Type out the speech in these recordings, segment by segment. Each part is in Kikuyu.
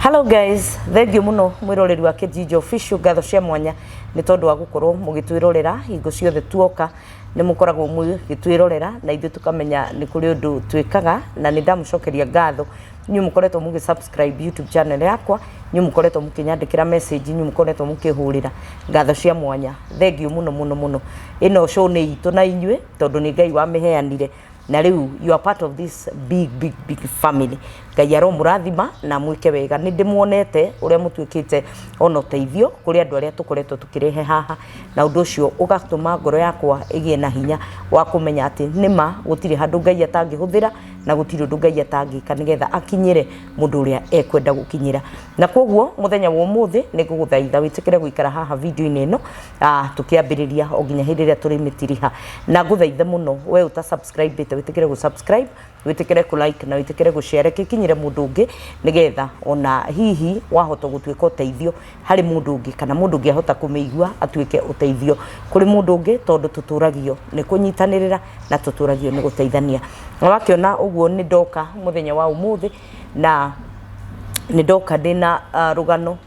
Hello guys, thengiũ mũno mwĩroreri wa Kĩjinja Official ngatho cia mwanya nĩ tondũ wa gũkorwo mũgĩtwĩrorera hingo ciothe tuoka nĩ mũkoragwo mũgĩtwĩrorera na ithuĩ tũkamenya nĩ kũrĩ ũndũ twĩkaga na nĩ ndamũcokeria ngatho inyuĩ mũkoretwo mũgĩ subscribe YouTube channel yakwa inyuĩ mũkoretwo mũkĩnyandĩkĩra message inyuĩ mũkoretwo mũkĩhũrĩra ngatho cia mwanya thengiũ mũno mũno mũno ĩno show nĩ itũ na inyuĩ tondũ nĩ Ngai wamĩheanire na rĩu you are part of this big big big family ngai aromũrathima na mwĩke wega nĩ ndĩmuonete ũrĩa mũtuĩkĩte ona ũteithio kũrĩ andũ arĩa tũkoretwo tũkĩrehe haha na ũndũ ũcio ũgatũma ngoro yakwa ĩgĩe na hinya wa kũmenya atĩ nĩma gũtirĩ handũ ngai atangĩhũthĩra na gũtirĩ ũndũ ngai atangĩka nĩgetha akinyĩre mũndũ ũrĩa ekwenda gũkinyĩra na koguo mũthenya wa ũmũthĩ nĩ ngũgũthaitha wĩtĩkĩre gũikara haha video-inĩ ĩno Ah, tukiambiriria o nginya hindi iria turimitiriha na nguthaithe muno we uta subscribe te witikire gu subscribe witikire ku like na witikire gu share kikinyire mundu ungi nigetha ona hihi wahota gutuika uteithio hari mundu ungi kana mundu ungi ahota kumigua atuike uteithio kuri mundu ungi tondu tuturagio ni kunyitanirira na tuturagio ni guteithania na wakiona uguo ni ndoka muthenya wa umuthi na nĩ ndoka ndĩ na rũgano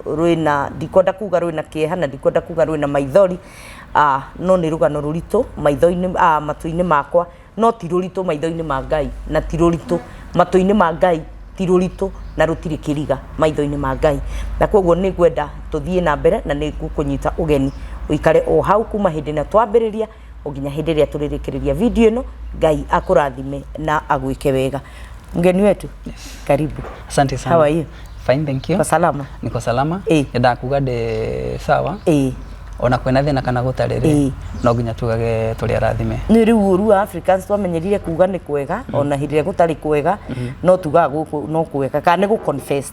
rwĩna, ndikwenda kuga rwĩna kĩeha na ndikwenda kuga rwĩna maithori, no nĩ rũgano rũritũ matũ-inĩ makwa no ti rũritũ maitho-inĩ ma Ngai, na ti rũritũ matũ-inĩ ma Ngai, ti rũritũ na rũtirĩ kĩriga maitho-inĩ ma Ngai. Na kwoguo nĩ ngwenda tũthiĩ na mbere na nĩ ngũkũnyita ũgeni ũikare o hau kuma hĩndĩ ĩrĩa twambĩrĩria. o nginya hĩndĩ ĩrĩa tũrĩrĩkĩrĩria video ĩno ngai akũrathime na agwĩke wega mgeni wetu karibu Asante sana. How are you? Fine, thank you. Kwa salama? Niko salama. Eh. Ndakuga ndĩ sawa. Eh. Ona kwĩna thĩna kana gũtarĩ rĩ, Eh. no nginya tugage tũrĩ arathime. nä rä u å ru wa africans twamenyerire kuga nä kwega ona hä ndä ä rä a gå tarä kwega no tugaga gå- no kwega kana nä gå confess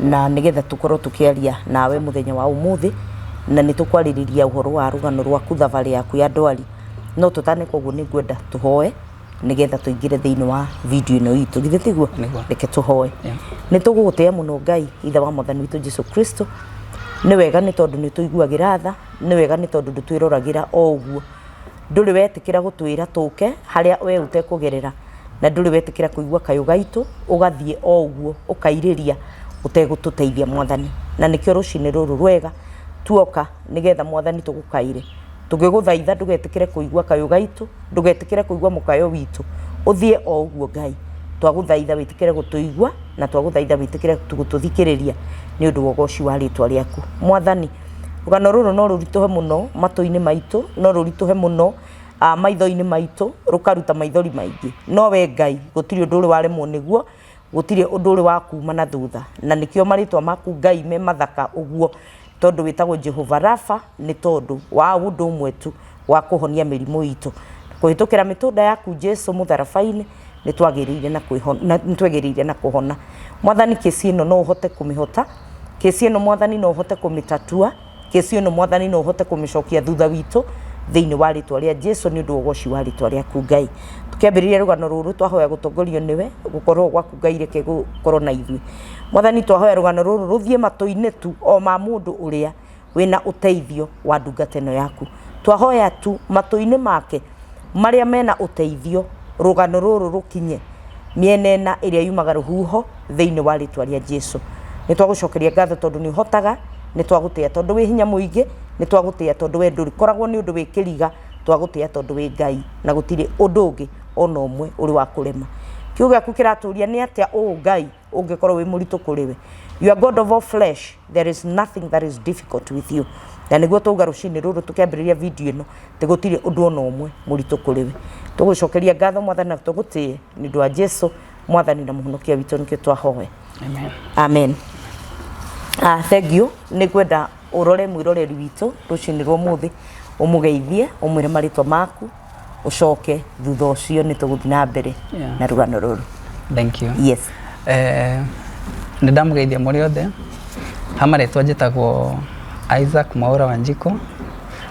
na nĩgetha tũkorwo tũkĩaria nawe mũthenya wa ũmũthĩ na nĩ tũkwarĩrĩria ũhoro wa rũgano rwaku thabarĩ yaku ya ndwari no tũtane koguo nĩ ngwenda tũhoe nĩgetha tũingĩre thĩinĩ wa video ĩno itũ githĩ tiguo Nĩguo. reke tũhoe Yeah. nĩ tũgũgũtĩa mũno ngai ithe wa mwathani witũ jesu kristo nĩ wega nĩ tondũ nĩ tũiguagĩra tha nĩ wega nĩ tondũ ndũtwĩroragĩra o ũguo ndũrĩ wetĩkĩra gũtwĩra tũke harĩa we ũtekũgerera na ndũrĩ wetĩkĩra kũigua kayũ gaitũ ũgathiĩ o ũguo ũkairĩria ũtegũtũteithia mwathani na nĩkĩo rũcinĩ rũrũ rwega tuoka nĩgetha mwathani tũgũkaire tũgĩgũthaitha ndũgetĩkĩre kũigua kayũ gaitũ ndũgetĩkĩre kũigua mũkayo witũ ũthiĩ o ũguo ngai twagũthaitha wĩtĩkĩre gũtũigua na twagũthaitha wĩtĩkĩre gũtũthikĩrĩria nĩ ũndũ wa ũgoci wa rĩtwa rĩaku mwathani Rũgano rũrũ no rũritũhe mũno matũ-inĩ maitũ, no rũritũhe mũno maitho-inĩ maitũ, rũkaruta maithori maingĩ. No we Ngai gũtirĩ ũndũ ũrĩ waremwo nĩguo, gũtirĩ ũndũ ũrĩ wakuma na thutha. Na nĩkĩo marĩtwa maku Ngai me mathaka ũguo, tondũ wĩtagwo Jehova Rapha, nĩ tondũ wa ũndũ ũmwe tu. wa kũhonia mĩrimũ itũ. Kũhĩtũkĩra mĩtũnda yaku Jesu mũtharaba-inĩ, nĩ twagĩrĩire na kwĩhona, na nĩ twagĩrĩire na kũhona. Mwathani kĩci ĩno no ũhote kũmĩhota, kĩci ĩno Mwathani no ũhote kũmĩtatua, kĩci ĩno Mwathani no ũhote kũmĩcokia thutha witũ thĩinĩ wa rĩtwa rĩa Jesu nĩ ũndũ wa ũgoci wa rĩtwa rĩaku Ngai. Tũkĩambĩrĩria rũgano rũrũ twahoya gũtongorio nĩwe, gũkorwo gwaku Ngai reke gũkorwo na ithuĩ. Mwathani twahoya rũgano rũrũ rũthiĩ matũ-inĩ tu o ma mũndũ ũrĩa wĩna ũteithio wa ndungata ĩno yaku. Twahoya tu matũ-inĩ make marĩa mena ũteithio, rũgano rũrũ rũkinye mĩena ĩna ĩrĩa yumaga rũhuho thĩinĩ wa rĩtwa rĩa Jesu. Nĩ twagũcokeria ngatho tondũ nĩ ũhotaga, nĩ twagũtĩa tondũ wĩ hinya mũingĩ, nĩ twagũtĩa tondũ we ndũrĩkoragwo nĩ ũndũ wĩ kĩriga, twagũtĩa tondũ wĩ Ngai na gũtirĩ ũndũ ũngĩ ona ũmwe ũrĩ wa kũrema. Kiugo gĩaku kĩratũria nĩ atĩa ũũ Ngai ũngĩkorwo wĩ mũritũ kũrĩ we you are god of all flesh there is nothing that is difficult with you na nĩguo twauga rũcinĩ rũrũ tũkĩambĩrĩria video ĩno tĩ gũtirĩ ũndũ ona ũmwe mũritũ kũrĩ we tũgũcokeria ngatho mwathani na tũgũtĩe nĩ ũndũ wa jesu mwathani na mũhonokia witũ nĩkĩo twahoe Amen. amen Ah, thank you nä ngwenda å rore mwä roreri witå rå cinä rwa må thä å må geithie å mwä re marä twa maku ũcoke thutha ũcio nĩ tũgũthiĩ na mbere Yeah. na rũgano rũrũ thank you yes Eh, nĩ ndamũgeithia mũrĩ othe ha marĩtwa njĩtagwo isaac mwaũra wa njiko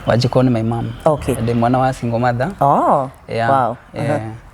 wa njiko nĩ my mom Okay. ndĩ mwana wa single mother oh, yeah, wow. yeah.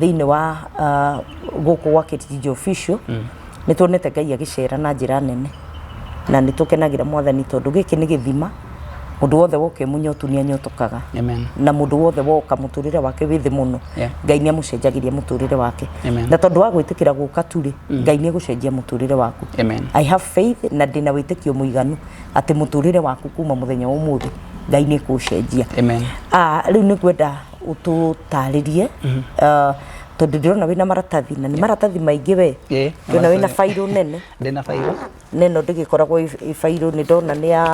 thĩinĩ wa ah, gũkũ gwa Kĩrinjinji Official nĩ tuonete Ngai agĩcera na njĩra nene na nĩ tũkenagĩra mwathani tondũ gĩkĩ nĩ gĩthima mũndũ wothe woka mũnyotu nĩ anyotokaga Amen. na mũndũ wothe woka mũtũrĩre wake wĩ thĩ mũno Yeah. ngai nĩ amũcenjagĩria mũtũrĩre wake Amen. na tondũ wa gwĩtĩkĩra gũka turĩ ngai nĩ egũcenjia mũtũrĩre waku Amen. I have faith na ndĩna wĩtĩkio mũiganu atĩ mũtũrĩre waku kuma mũthenya wa ũmũthĩ ngai nĩ ekũũcenjia Amen. Ah, rĩu nĩ ngwenda ũtũtarĩrie uh, tondũ ndĩrona wĩna maratathi na nĩ maratathi maingĩ we Eh, ndĩrona wĩna maratathi. bairũ nene ndĩna bairũ na ĩno ndĩgĩkoragwo ĩ- ĩ bairũ nĩ ndona nĩ ya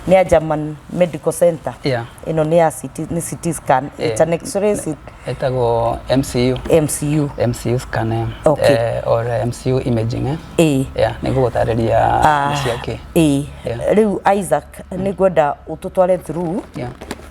nĩ ya German Medical Center Yeah. ĩno nĩ ya CT, nĩ CT scan Eh, it's an x-ray CT, ĩtagwo mcu MCU mcu scan eh, Okay. eh, or eh, mcu imaging eh? ĩĩ yeah, nĩ gũgũtarĩria Ah, nĩ cia kĩ ĩĩ Yeah. rĩu Isaac nĩ ngwenda ũtũtware through yeah.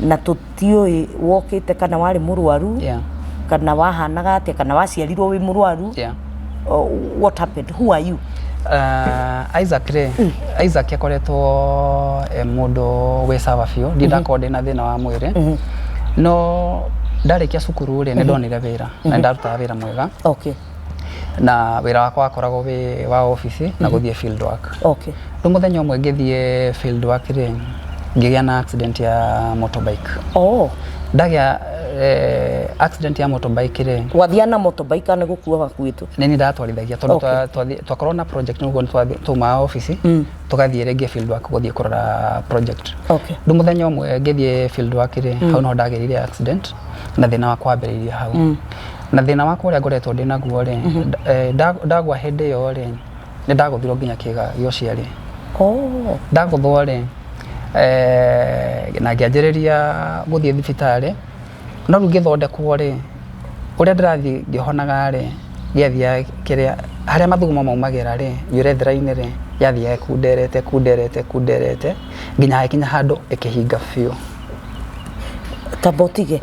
na tũtiũĩ wokĩte kana warĩ mũrwaru Yeah. kana wahanaga atĩa kana waciarirwo wĩ mũrwaru Yeah. oh, what happened who are you Uh, Isaac rĩ Isaac akoretwo e mũndũ wĩ sawa biũ ndiĩ ndakorwo ndĩ na thĩna wa mwĩrĩ no ndarĩkia cukuru rĩ nĩ ndonire wĩra na nĩ ndarutaga wĩra mwega okay na wĩra wakwa wakoragwo wĩ wa obici na gũthiĩ field work. Okay. Rĩu mũthenya ũmwe ngĩthiĩ field work rĩ, ngĩgĩa na accident ya motorbike. Oh. Ndagĩa eh, accident ya motorbike rĩ, Wathiaga na motorbike kana nĩ gũkua wakuĩtwo? nĩ niĩ ndatwarithagia tondũ Okay. twa- twathi- twakorwo na project nĩguo nĩtwathi- twauma obici tũgathiĩ rĩngĩ field work gũthiĩ kũrora project. Okay. Rĩu mũthenya ũmwe ngĩthiĩ field work rĩ, hau no ndagerire accident na thĩna wakwa wambĩrĩirie hau. na thina wakwa uria ngoretwo ndi naguo ri ndagwa hindi iyo ri ni ndaguthirwo nginya kiga gia uciari ndaguthwo ri na ngianjiriria guthii thibitari no riu ngithondekwo ri uria ndirathii ngihonaga ri giathiaga kiria haria mathugumo maumagira ri nywire thiraini ri yathiaga ikunderete ikunderete ikunderete nginya hagikinya handu ikihinga biu. Tamba utige.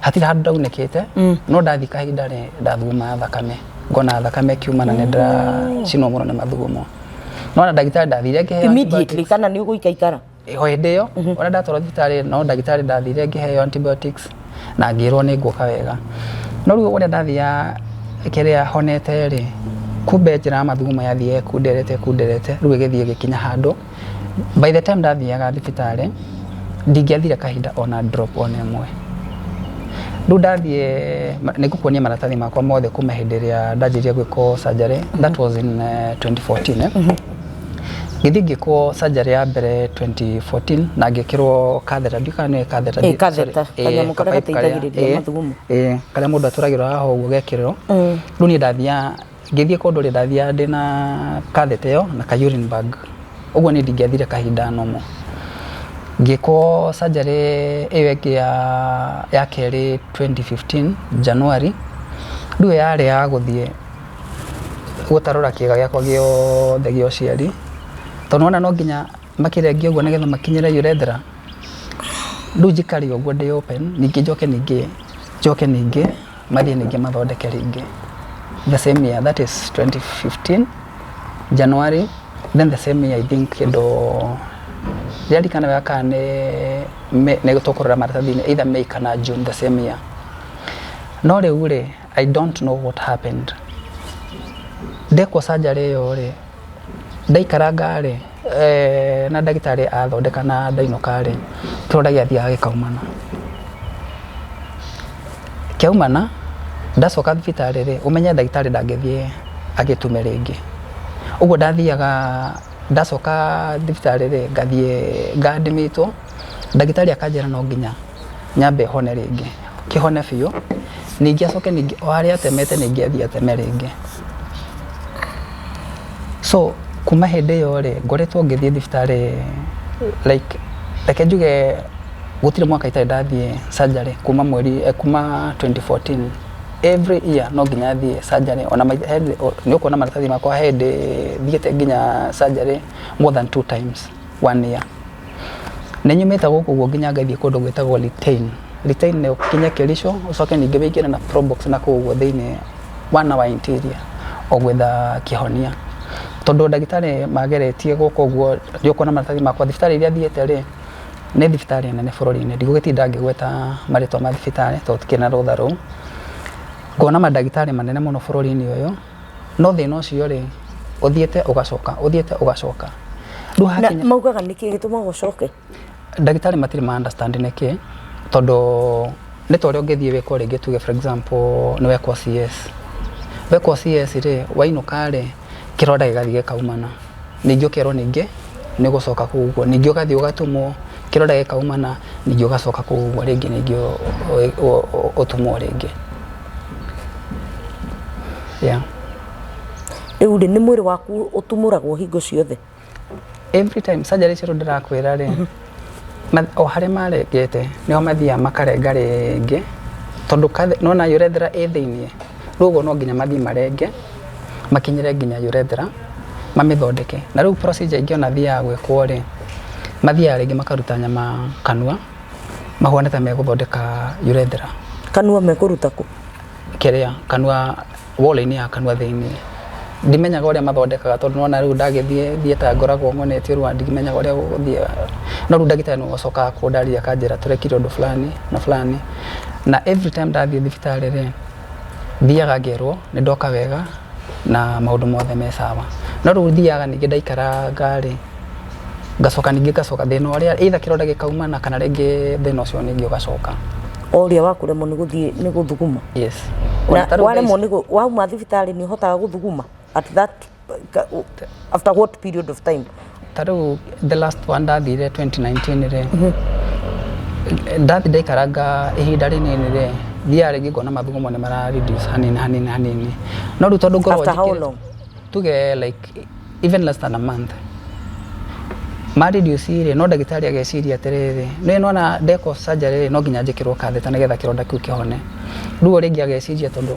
hatiri handå ndaunäkä te no ndathi kahinda rä ndathugumaga thakame ngona thakame kiuma na nä ndĩracinwo må no nä mathugumo no na ndagĩtarĩ ndathire ngĩheo immediately kana nä å gå ikaikara o hĩndä ä yo ona ndatwarwo thibitarä no ndagĩtarĩ ndathire ngĩheo antibiotics na ngĩrwo nĩ nguoka wega no rĩu ũrĩa ndathiaga kĩrĩa honete rĩ kumbe njĩra ya mathugumo yathiĩ ĩkunderete ĩkunderete rĩu ĩgĩthiĩ ĩgĩkinya handũ By the time ndathiaga thibitarĩ, ndingĩathire kahinda ona drop ona ĩmwe. Rĩu ndathiĩ, nĩ ngũkuonia maratathi makwa mothe kuma hĩndĩ ĩrĩa ndanjĩrĩria gwĩkwo surgery, that was in 2014. Ngĩthiĩ ngĩkwo surgery ya mbere 2014 na ngĩkĩrwo catheter, ndiũĩ kana nĩ catheter. Ĩĩ, catheter, kanyamũ karĩa gateithagĩrĩria mathugumo. Ĩĩ, karĩa mũndũ atũragĩrwo haha ũguo ũgekĩrĩrwo. Rĩu niĩ ndathiaga Ngĩthiĩ kũndũ rĩ, ndathiaga ndĩ na catheter ĩyo na ka urine bag. Ũguo niĩ ndingĩathire kahinda normal. Ngĩkwo surgery ĩyo ĩngĩ ya kerĩ twenty fifteen January, rĩu ĩyo yarĩ ya gũthiĩ gũtarũra kĩga gĩakwa gĩothe gĩa ũciari, tondũ nĩwona no nginya makĩrengie ũguo nĩgetha makinyĩre urethra, rĩu njikare ũguo ndĩ open ningĩ njoke ningĩ, njoke ningĩ. mathiĩ ningĩ mathondeke rĩngĩ the same year that is 2015 January then the same year I think kĩndũ rĩarikana wega kana nĩ May- nĩ tũkũrora maratathi-inĩ either May kana June the same year no rĩu rĩ I don't know what happened ndekwo surgery ĩyo rĩ Ndaikaranga rĩ, na ndagĩtarĩ athondeka na ndainũka rĩ, kĩronda gĩathiaga gĩkaumana. Kĩaumana, ndacoka thibitarĩ rĩ, ũmenye ndagĩtarĩ ndangĩthiĩ agĩtume rĩngĩ. Ũguo ndathiaga, ndacoka thibitarĩ rĩ, ngathiĩ ngathimĩtwo, ndagĩtarĩ akanjĩra no nginya. nyambe hone rĩngĩ, kĩhone biũ, ningĩ acoke ningĩ o harĩa atemete ningĩ athiĩ ateme rĩngĩ. So kuma hĩndĩ ĩyo rĩ, ngoretwo ngĩthiĩ thibitarĩ like reke njuge gũtirĩ mwaka itarĩ ndathiĩ surgery kuma mweri, kuma twenty fourteen. Every year no nginya thiĩ surgery ona nĩ ũkuona maratathi makwa he hĩndĩ thiĩte nginya surgery more than two times one year. Nĩ nyumĩte gũkũ ũguo nginya ngathiĩ kũndũ gwĩtagwo Litein. Litein nĩ ũkinye Kericho ũcoke ningĩ wĩingĩre na Probox na kũu ũguo thĩinĩ wa na wa interior ũgwetha kĩhonia. Tondũ ndagĩtarĩ mageretie gũkũ ũguo nĩ ũkuona maratathi makwa. Thibitarĩ iria thiĩte rĩ, nĩ thibitarĩ nene bũrũri-inĩ. Ndigũgĩtinda ngĩgweta marĩtwa ma thibitarĩ tondũ itirĩ na rũtha rũu. Ngona mandagĩtarĩ manene mũno bũrũri-inĩ ũyũ. no thina ucio ri uthiete ugacoka uthiete ugacoka riu na hakinya maugaga nä kä gä tå maga å coke ndagĩtarĩ matirĩ ma understand nĩ kĩ tondũ nĩ ta ũrĩa ũngĩthiĩ wĩkwo rĩngĩ tuge for example nĩ wekwo CS wekwo CS rĩ wainũka rĩ kĩro ndagĩgathiĩ gĩkaumana ningĩ ũkerwo ningĩ nĩ ũgũcoka kũu ũguo ningĩ ũgathiĩ ũgatumwo kĩro ndagĩkaumana ningĩ ũgacoka kũu ũguo rĩngĩ ningĩ ũ- ũ- ũ- ũ- ũtumwo rĩngĩ Yeah. rĩu rĩ nĩ mwĩrĩ waku ũtumũragwo hingo ciothe Every time surgery icio rĩu ndĩrakwĩra rĩ, ma- o harĩa marengete nĩo mathiaga makarenga rĩngĩ tondũ kathe- nĩwona urethra ĩ thĩinĩ rĩu ũguo no nginya mathiĩ marenge makinyĩre nginya urethra mamĩthondeke na rĩu procedure ingĩ ona thiaga gwĩkwo rĩ mathiaga rĩngĩ makaruta nyama kanua Mahũa nĩ ta megũthondeka urethra. Kanua mekũruta kũ? Kĩrĩa, kanua wall-inĩ ya kanua thĩiniĩ. Ndimenyaga ũrĩa mathondekaga tondũ nĩ wona rĩu ndagĩthiĩ theater ngoragwo ngonetio rĩu ndimenyaga ũrĩa gũgũthiĩ. No rĩu ndagĩtarĩ nĩ acokaga kũndarĩria akanjĩra tũrekire ũndũ fulani na fulani. Na every time ndathiĩ thibitarĩ rĩ... thiaga ngerwo nĩ ndoka wega na maũndũ mothe me sawa. No rĩu thiaga ningĩ ndaikaranga rĩ, ngacoka ningĩ ngacoka thĩna ũrĩa either kĩronda gĩkauma na kana rĩngĩ thĩna ũcio ningĩ ũgacoka. O ũrĩa wa kũremwo nĩ gũthiĩ nĩ gũthuguma? Yes. Ona ta rĩu thaa ici. Waremwo nĩ wauma thibitarĩ nĩ ũhotaga gũthuguma? at that ka- u- after what period of time ta rĩu the last one ndathire 2019 rĩ ndathi ndaikaranga ihinda rĩnini rĩ thiaga rĩngĩ ngona mathugu mo nĩ mara reduce hanini hanini hanini no rĩu tondũ ngoragwo After how njĩkĩrĩte- long? tuge like even less than a month ma reduce rĩ no ndagĩtarĩ ageciria atĩrĩrĩ nĩ nona ndeko surgery rĩ no nginya njĩkĩrwo katheta nĩgetha kĩronda kĩu kĩhone rĩu o rĩngĩ ageciria tondũ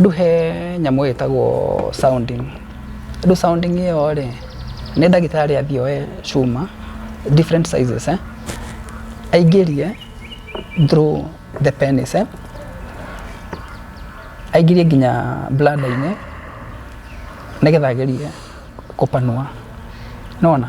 Ndũhe nyamũ ĩtagwo sounding. Rĩu sounding ĩyo rĩ, nĩ ndagĩtarĩ athiĩ oe cuma, different sizes, aingĩrie through the penis, aingĩrie nginya bladder -inĩ nĩgetha agerie kũmĩpanua. Nĩ wona?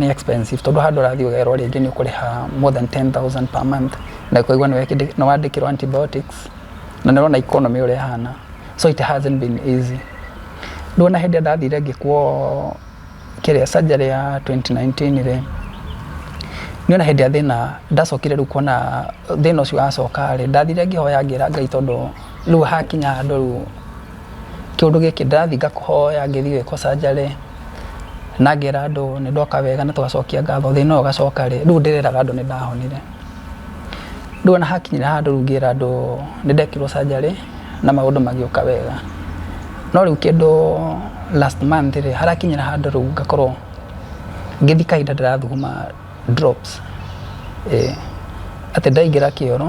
nĩ expensive tondũ handũ ũrathiĩ ũgerwo rĩngĩ nĩ ũkũrĩha more than ten thousand per month na ũkaigua nĩ wandĩkĩrwo antibiotics na nĩ ũrona economy ũrĩa ĩhana so it hasn't been easy. Ndũona hĩndĩ ĩrĩa ndathire ngĩkwo kĩrĩa surgery ya twenty nineteen rĩ, nĩ wona hĩndĩ ĩrĩa thĩna ndacokire rĩu kuona thĩna ũcio wacoka rĩ, ndathire ngĩhoya ngĩra Ngai tondũ rĩu hakinya handũ rĩu... Kĩũndũ gĩkĩ ndĩrathiĩ ngakũhoya ngĩthiĩ gwĩkwo surgery, na ngera andũ nĩ ndoka wega na tũgacokia ngatho thĩna ũyũ ũgacoka rĩ, rĩu ndĩreraga andũ nĩ ndahonire. Rĩu ona hakinyire handũ rĩu ngĩra andũ nĩ ndekirwo surgery na maũndũ magĩũka wega. No rĩu kĩndũ last month rĩ, harakinyire handũ rĩu ngakorwo ngĩthiĩ kahinda ndĩrathuguma drops, ĩĩ. Atĩ ndaingĩra kĩoro.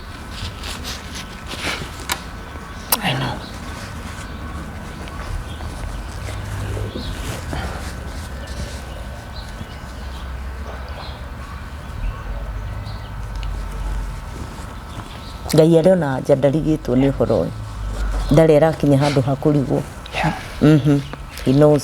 I know. ngai arĩ ona anja ndarigĩtwo nĩ ũhoro ũyũ ndarĩ arakinya handũ ha kũrigwo Mhm. he knows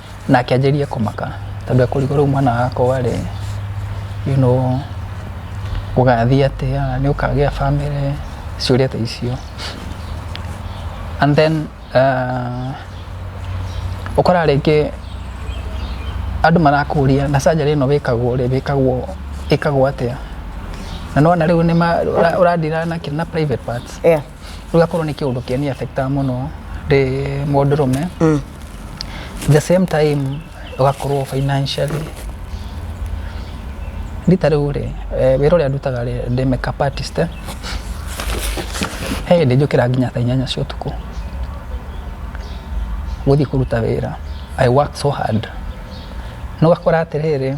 na akĩanjĩrĩria kũmaka tondũ ekũrigwo rĩu mwana wakwa rĩ you know gũgathiĩ atĩa nĩ ũkagĩa bamĩrĩ ciũria ta icio and then uh, ũkoraga rĩngĩ andũ marakũria na surgery ĩno wĩkagwo rĩ wĩkagwo ĩkagwo atĩa na nĩwona rĩu nĩ ma- ũra- ũradira na kĩ- na private parts Yeah. ũgakorwo nĩ kĩũndũ kĩani affectaga mũno ndĩ mũndũrũme Mm. the same time ũgakorwo financially rita rĩu rĩ eh, wĩra ũrĩa ndutaga rĩ ndĩ makeup artist eh. he hĩndĩ njũkĩra nginya thaa inyanya cia ũtukũ gũthiĩ kũruta wĩra i work so hard no gakora atĩrĩrĩ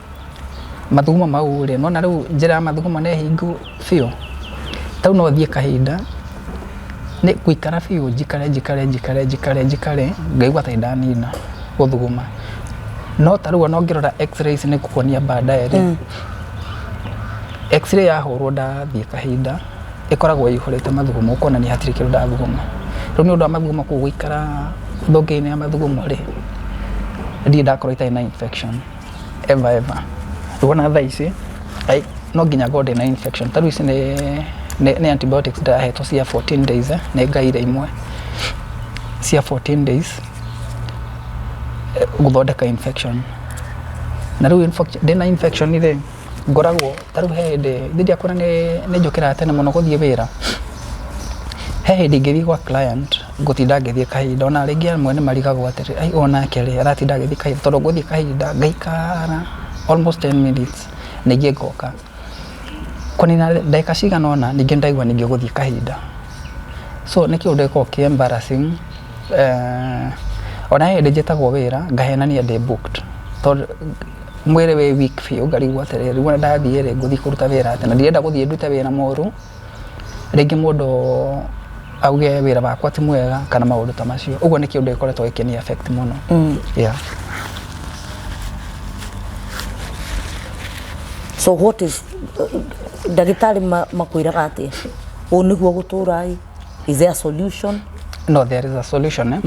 mathugumo mau rĩ, nĩwona rĩu njĩra ya mathugumo nĩ hingu biũ, tarĩu no thiĩ kahinda, nĩ gũikara biũ njikare njikare njikare njikare njikare ngaigua ta nĩndanina gũthuguma. No tarĩu ona ũngĩrora X-ray ici nĩngũkuonia baadaye rĩ, X-ray yahũrwo ndathiĩ kahinda, ĩkoragwo ĩihũrĩte mathugumo kuonania hatirĩ kĩndũ ndathuguma. Rĩu nĩ ũndũ wa mathugumo kũu gũikara thonge-inĩ ya mathugumo rĩ, ndirĩ ndakorwo itarĩ na infection. eva eva wona thaa ici ai, no nginya ngorwo ndĩna infection tarĩu ici nĩ nĩ nĩ antibiotics ndahetwo cia 14 days eh, nĩ ngaire imwe cia 14 days eh, gũthondeka infection na rĩu infection- ndĩna infection rĩ ngoragwo ta rĩu he hĩndĩ ndiakora nĩ njũkĩraga tene mũno gũthiĩ wĩra, he hĩndĩ ingĩthiĩ gwa client ngũtinda ngĩthiĩ kahinda ona rĩngĩ amwe nĩ marigagwo atĩrĩ aai onake rĩ aratinda agĩthiĩ kahinda tondũ ngũthiĩ kahinda ngaikara almost ten minutes ningĩ ngoka. Kũnina ndagĩka cigana ũna ningĩ nĩ ndĩraigua ningĩ gũthiĩ kahinda. So nĩ kĩũndũ gĩkoragwo kĩ embarrassing ona he hĩndĩ njĩtagwo wĩra ngahenania ndĩ booked. mwĩrĩ wĩ weak biũ ngarigwo atĩrĩrĩ rĩu ona ndathiĩ rĩ ngũthiĩ kũruta wĩra atĩa na ndirenda gũthiĩ ndute wĩra mũru rĩngĩ mũndũ auge wĩra wakwa ti mwega kana maũndũ ta macio ũguo nĩ kĩũndũ gĩkoretwo gĩkĩni affect mũno mm. yeah. so what is ndagĩtarĩ makwĩraga atĩa ũũ nĩguo gũtũũra is there a solution no there is a solution eh?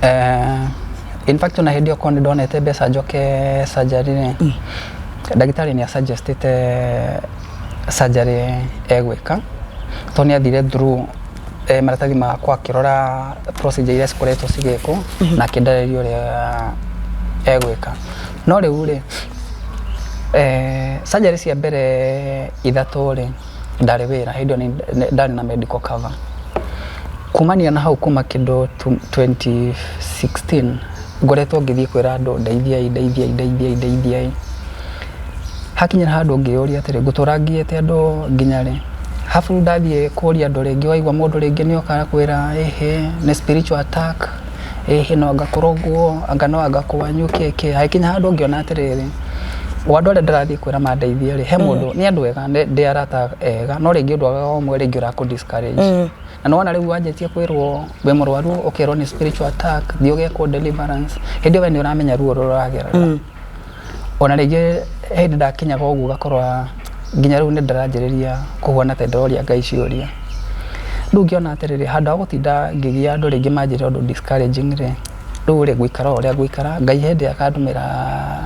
Eh, in fact ona hindi okorwo nä ndonete mbeca njoke surgery nä ndagĩtarĩ nä asuggestĩte surgery egwĩka tondũ nä athire through eh, maratathi makwa akĩrora procedure iria cikoretwo cigĩkwo na akĩndarĩria ũrĩa egwĩka no rĩu rĩ eh, surgery cia mbere ithatũ rĩ ndarĩ wĩra hĩndĩ ĩyo ndarĩ na medical cover. Kumania na hau kuma kĩndũ twenty sixteen ngoretwo ngĩthiĩ kwĩra andũ ndeithiai ndeithiai ndeithiai ndeithiai. Hakinya handũ ngĩyũria atĩrĩ ngũtũra ngiĩte andũ nginya rĩ? Arabu ndathiĩ kũria andũ rĩngĩ waigua mũndũ rĩngĩ nĩ oka agakwĩra ĩhĩ nĩ spiritual attack. ĩ hihi no anga kũrũngwo, anga no anga kwanyu kĩ kĩ, hagĩkinya handũ ngĩona atĩrĩrĩ, o andũ arĩa ndĩrathiĩ kwĩra mandeithie rĩ, he mũndũ, nĩ andũ ega, ndĩ arata ega, no rĩngĩ ũndũ o ũmwe rĩngĩ ũrakũ discourage. Na nĩ wona rĩu wanjĩtie kwĩrwo wĩ mũrwaru, ũkerwo nĩ spiritual attack, thiĩ ũgekwo deliverance, hĩndĩ ĩyo we nĩ ũramenya ruo rũrĩa ũragerera. Ona rĩngĩ he hĩndĩ ndakinyaga ũguo ngakora nginya rĩu nĩndĩranjĩrĩria kũhuana ta ndĩroria Ngai ciũria. Rĩu ngĩona atĩrĩrĩ, handũ ha gũtinda ngĩgia andũ rĩngĩ manjĩre ũndũ discouraging rĩ, rĩu rĩ, ngũikara o ũrĩa ngũikara, Ngai he hĩndĩ akandũmĩra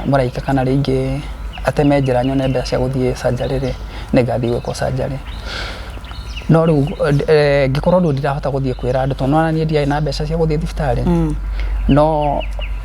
mũraika kana rĩngĩ ateme njĩra nyone mbeca cia gũthiĩ surgery rĩ, nĩngathiĩ gwĩkwo surgery. No rĩu ngĩkorwo rĩu ndirahota gũthiĩ kwĩra andũ tondũ nĩwona niĩ ndiarĩ na mbeca cia gũthiĩ thibitarĩ, no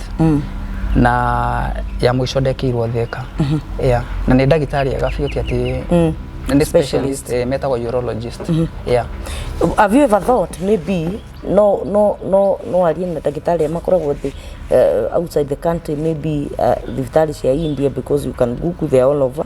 test mm. na ya mwico ndekirwo thika mhm. yeah. na nä ndagä tarä ega biå ti atä mm. nä specialist eh, metagwo urologist mhm. yeah. have you ever thought maybe no no no no arie na ndagĩtarĩ makoragwo thĩ uh, outside the country maybe uh, thibitarĩ cia India because you can google they are all over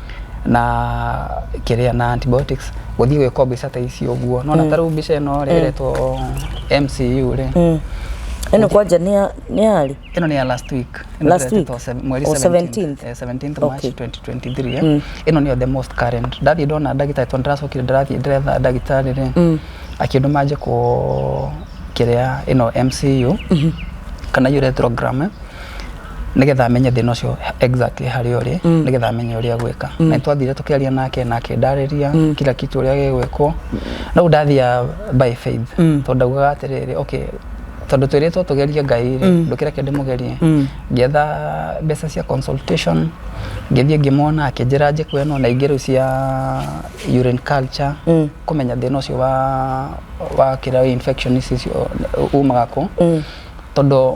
na kĩrĩa na antibiotics gũthiĩ gwĩkwo mbica ta ici ũguo nona ta rĩu mbica ĩno rĩ ĩretwo MCU rĩ Mm. ĩno kwanja nĩ ya- nĩ yarĩ ĩno nĩ ya last week Ĩno Last ĩretwo week? se- mweri Oh, 17th. 17th eh, 17th March Okay. 2023 eh. ĩno nĩyo the most current ndathiĩ ndona ndagĩtarĩ tondũ ndĩracokire ndĩrathiĩ ndĩretha ndagĩtarĩ rĩ akĩndũ manje kũ kĩrĩa ĩno MCU kana uretrogram eh. nĩgetha menye thĩna ũcio exactly harĩa ũrĩ mm. nĩgetha menye ũrĩa gwĩka mm. na twathire tũkĩaria nake na akĩndarĩria mm. kila kitu ũrĩa gĩgwĩkwo na u ndathia by faith mm. tondũ ndaugaga atĩrĩrĩ okay tondå twä rä two tå gerie ngai rä mm. ndå kä reke ndä må gerie mm. ngĩetha mbeca cia consultation ngĩthiĩ ngĩmona akĩnjä ra njä kå eno na ingä rä u cia urine culture mm. kå menya thä na å cio wa kä ra infection icio umaga kå tondå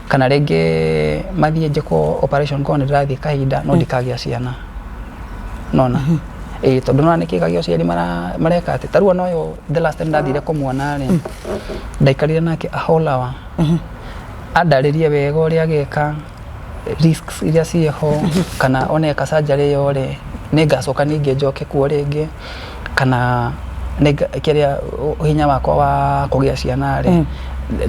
kana rĩngĩ mathiĩ njĩkwo operation korwo nĩ ndĩrathiĩ kahinda no ndikagĩa ciana nona ĩĩ tondũ nona nĩkĩgagia ũciari mara- mareka atĩ tarua noyo the last time ndathire kũmuona rĩ ndaikarire nake a whole hour andarĩrie wega ũrĩa ageka risks iria ciĩho kana oneka surgery ĩyo rĩ nĩ ngacoka ningĩ njoke kuo rĩngĩ kana kĩrĩa hinya wakwa wa kũgĩa ciana rĩ mm.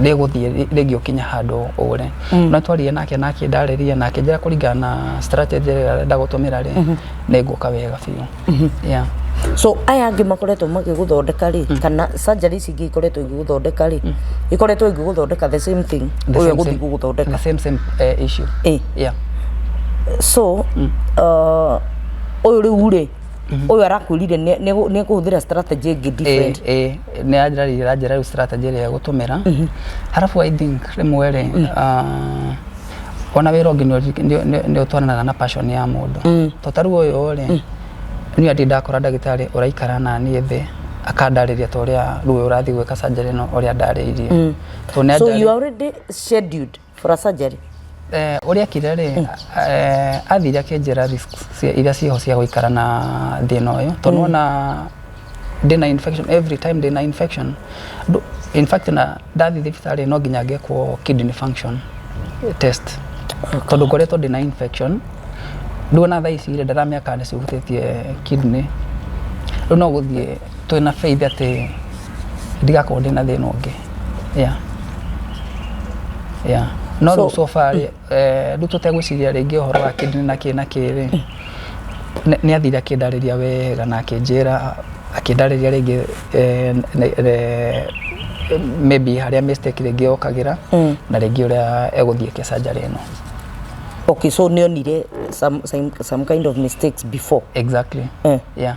ndĩgũthiĩ rĩngĩ ũkinya handũ ũre mm. no twaririe nake na akĩndarĩria na akĩnjĩra kũringana na strategy ĩrĩa arenda gũtũmĩra rĩ mm-hmm. nĩ ngũka wega biũ mm-hmm. yeah so aya angä makoretwo magä gå thondeka rä mm. kana surgery ici ingä ikoretwo igä gå thondeka rä mm. ikoretwo igä gå thondeka the same thing å yå gå thiä gå gå thondeka eh, so mm. uh, å yå rä u rä ũyũ arakwĩrire nĩ- nĩ nĩ kũhũthĩra strategy ĩngĩ different ĩĩ nĩ anjarĩire anjĩra rĩu strategy ĩrĩa gũtũmĩra harabu i think rĩmwe rĩ ah, ona wĩra ũngĩ nĩ ũri- nĩ- nĩ- nĩ ũtwaranaga na passion ya mũndũ to tarĩu ũyũ rĩ niĩ atĩ ndakora ndagĩtarĩ ũraikara na niĩ thĩ akandarĩria ta ũrĩa rĩu ũrathiĩ gwĩka surgery ĩno ũrĩa ndarĩirie to nĩ so anjarĩirie- you are already scheduled for a surgery Eh, ũrĩa akire rĩ eh, athire akĩnjĩra risks cia- iria ciho cia gũikara na thĩna ũyũ tondũ ona ndĩna infection every time ndĩna infection Ndũ- in fact na ndathi thibitarĩ no nginya ngekwo kidney function test tondũ ngoretwo ndĩna infection rĩu ona thaa ici rĩ ndaramĩaka nĩ cihutĩtie kidney rĩu no gũthiĩ twĩ na faith atĩ ndigakorwo ndĩ na thĩna ũngĩ yeah. Yeah. no So- rĩu so far rĩ, eh, rĩu tũtegwĩciria rĩngĩ ũhoro wa kĩndini na kĩ na kĩrĩ nĩ athire akĩndarĩria wega na akĩnjĩra akĩndarĩria rĩngĩ eh, ne- ne- maybe harĩa mistake rĩngĩ yokagĩra Mm. na rĩngĩ ũrĩa egũthiĩ kĩcanjarĩ ĩno okay so nionire some, some, some kind of mistakes before exactly eh. yeah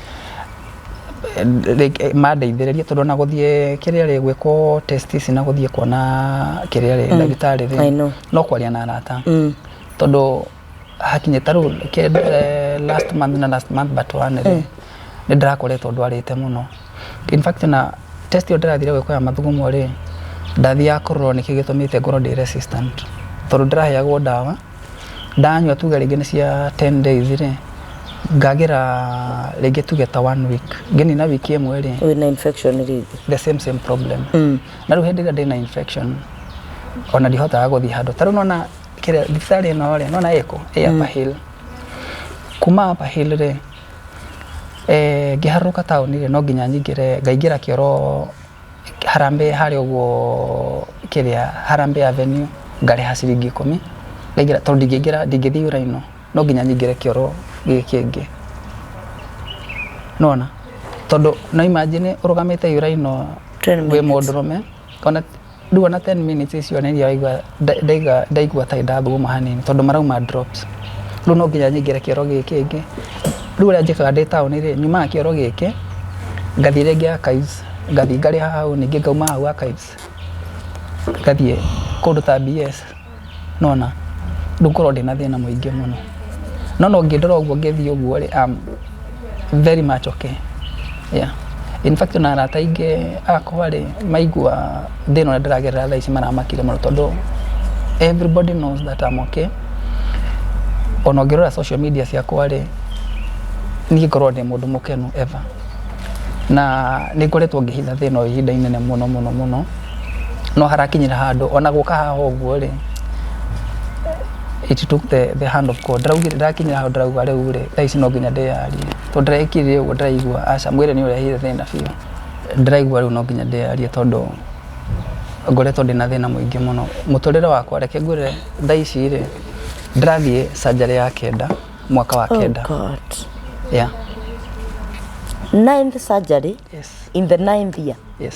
mandeithĩrĩrie tondũ ona gũthiĩ kĩrĩa rĩ gwĩkwo test ici na gũthiĩ kuona kĩrĩa rĩ ndagĩtarĩ I rĩ know. no kwaria na arata Mm. tondũ hakinyĩ ta rĩu kĩ- eh, last month na last month but one rĩ nĩ ndĩrakoretwo ndwarĩte mũno in fact na test ĩyo ndĩrathire gwĩkwo ya mathugumo rĩ ndathiaga kũrorwo nĩkĩ gĩtũmĩte ngorwo ndĩ resistant tondũ ndĩraheagwo ndawa ndanyua tuge rĩngĩ nĩ cia ten days rĩ ngagĩra rĩngĩ tuge ta one week ngĩnina wiki ĩmwe rĩ wĩna infection rĩngĩ the same same problem mm. na rĩu hĩndĩ ĩrĩa ndĩna infection ona ndihotaga gũthiĩ handũ ta rĩu nona kĩrĩa thibitarĩ ĩno rĩ nona ĩkũ ĩ mm. upper hill kuma upper hill rĩ eh, ngĩharũrũka taũni rĩ no nginya nyingĩre ngaingĩra kĩoro Harambee harĩa ũguo kĩrĩa Harambee Avenue ngarĩha ciringi ikũmi ngaingĩra tondũ ndingĩingĩra ndingĩthiĩ ũraihu no nginya nyingĩre kĩoro gĩkĩ kĩngĩ. Nĩwona? Tondũ no imagine ũrũgamĩte ũraihu wĩ mũndũrũme. Ndua na 10 minutes icio nĩ ndaigua ndaiga ndaigua ta ndathuguma hanini tondũ marauma drops rĩu no nginya nyingĩre kĩoro gĩkĩ ĩngĩ rĩu ũrĩa njĩkaga ndĩ taũni rĩ nyumaga kĩoro gĩkĩ ngathiĩ rĩngĩ archives ngathiĩ ngarĩha hau ningĩ ngauma hau archives ngathiĩ kũndũ ta BS nĩwona ndũkorwo ndĩna thĩna mũingĩ mũno no no ngĩndora ũguo ngĩthiĩ ũguo rĩ am very much okay yeah in fact ona arata aingĩ akwa rĩ maigua thĩna ũrĩa ndĩragerera thaa ici maramakire mũno tondũ everybody knows that I'm okay ona ũngĩrora social media ciakwa rĩ niĩ ngorwo ndĩ mũndũ mũkenu ever na nĩ ngoretwo ngĩhitha thĩna ũyũ ihinda inene mũno mũno mũno no harakinyĩra handũ ona gũka haha ũguo rĩ it took the, the hand of God ndaraugire ndarakinyĩra handũ ndarauga rĩu rĩ thaa ici no nginya ndĩyarie tondũ ndarekire ũguo ndaraigua aca mwĩrĩ nĩ ũrehire thĩna biũ ndĩraigua rĩu no nginya ndĩyarie tondũ ngoretwo ndĩ na thĩna mũingĩ mũno mũtũrĩre wakwa reke ngwĩre thaa ici rĩ ndĩrathiĩ sanjarĩ ya kenda mwaka wa kenda oh God. yeah ninth surgery yes in the ninth year yes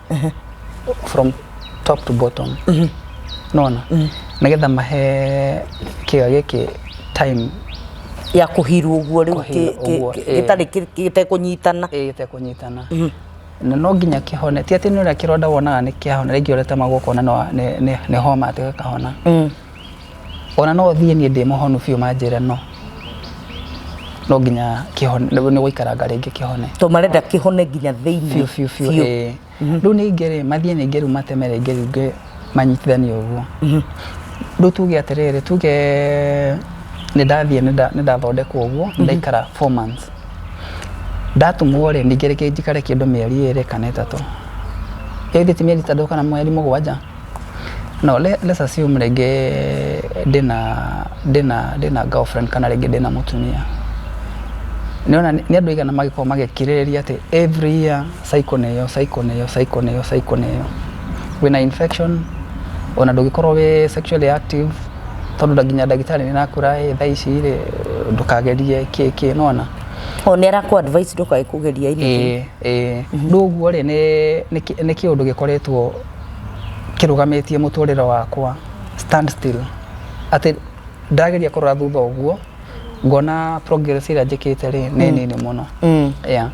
from top to bottom nona nigetha mahe kĩo gĩkĩ time ya kuhirwo uguo riu Kũhirwo ũguo, ĩĩ. gitari gitekunyitana ĩĩ gĩtekũnyitana na no nginya kĩhone ti atĩ nĩ ũrĩa kĩronda wonaga nĩ kĩahona rĩngĩ ũrĩtema guoko na no- nĩ- nĩ- nĩ homa atĩ gĩkahona ona no thiĩ niĩ ndĩ mũhonu biũ manjĩre no no nginya kĩhone nĩ gũikaranga rĩngĩ kĩhone to marenda kĩhone nginya thĩinĩ biũ biũ biũ Biũ. ĩĩ. rĩu nĩ ingĩ rĩ mathiĩ ningĩ rĩu mateme rĩngĩ rĩu ngĩ manyitithanie ũguo rĩu tuge atĩrĩrĩ tuge nĩ ndathiĩ nĩ nda- nĩ ndathondekwo ũguo nĩ ndaikara four months ndatumwo rĩ ningĩ rĩngĩ njikare kĩndũ mĩeri ĩrĩ kana ĩtatũ ĩthĩ ti mĩeri ĩtatũ kana mweri mũgwanja No lesser assume rĩngĩ ndĩna ndĩna ndĩna girlfriend kana rĩngĩ ndĩna mũtumia. Nĩ wona nĩ andũ aigana magĩkoragwo magĩkirĩrĩria atĩ every year cycle nĩ ĩyo, cycle nĩ ĩyo, cycle nĩ ĩyo, cycle nĩ ĩyo. Wĩna infection, ona ndũngĩkorwo wĩ sexually active, tondũ nginya ndagĩtarĩ nĩ arakwĩra ĩĩ thaa ici rĩ, ndũkagerie kĩ kĩ, nĩ wona? O nĩ arakũ advise ndũkae kũgeria anything. Ĩĩ ĩĩ. Rĩu ũguo rĩ, nĩ nĩ kĩũndũ gĩkoretwo kĩrũgamĩtie mũtũrĩre wakwa stand still. Atĩ ndageria kũrora thutha ũguo ngona progress ĩrĩa njĩkĩte rĩ nĩ mm. nini mũno. Mm. Yeah.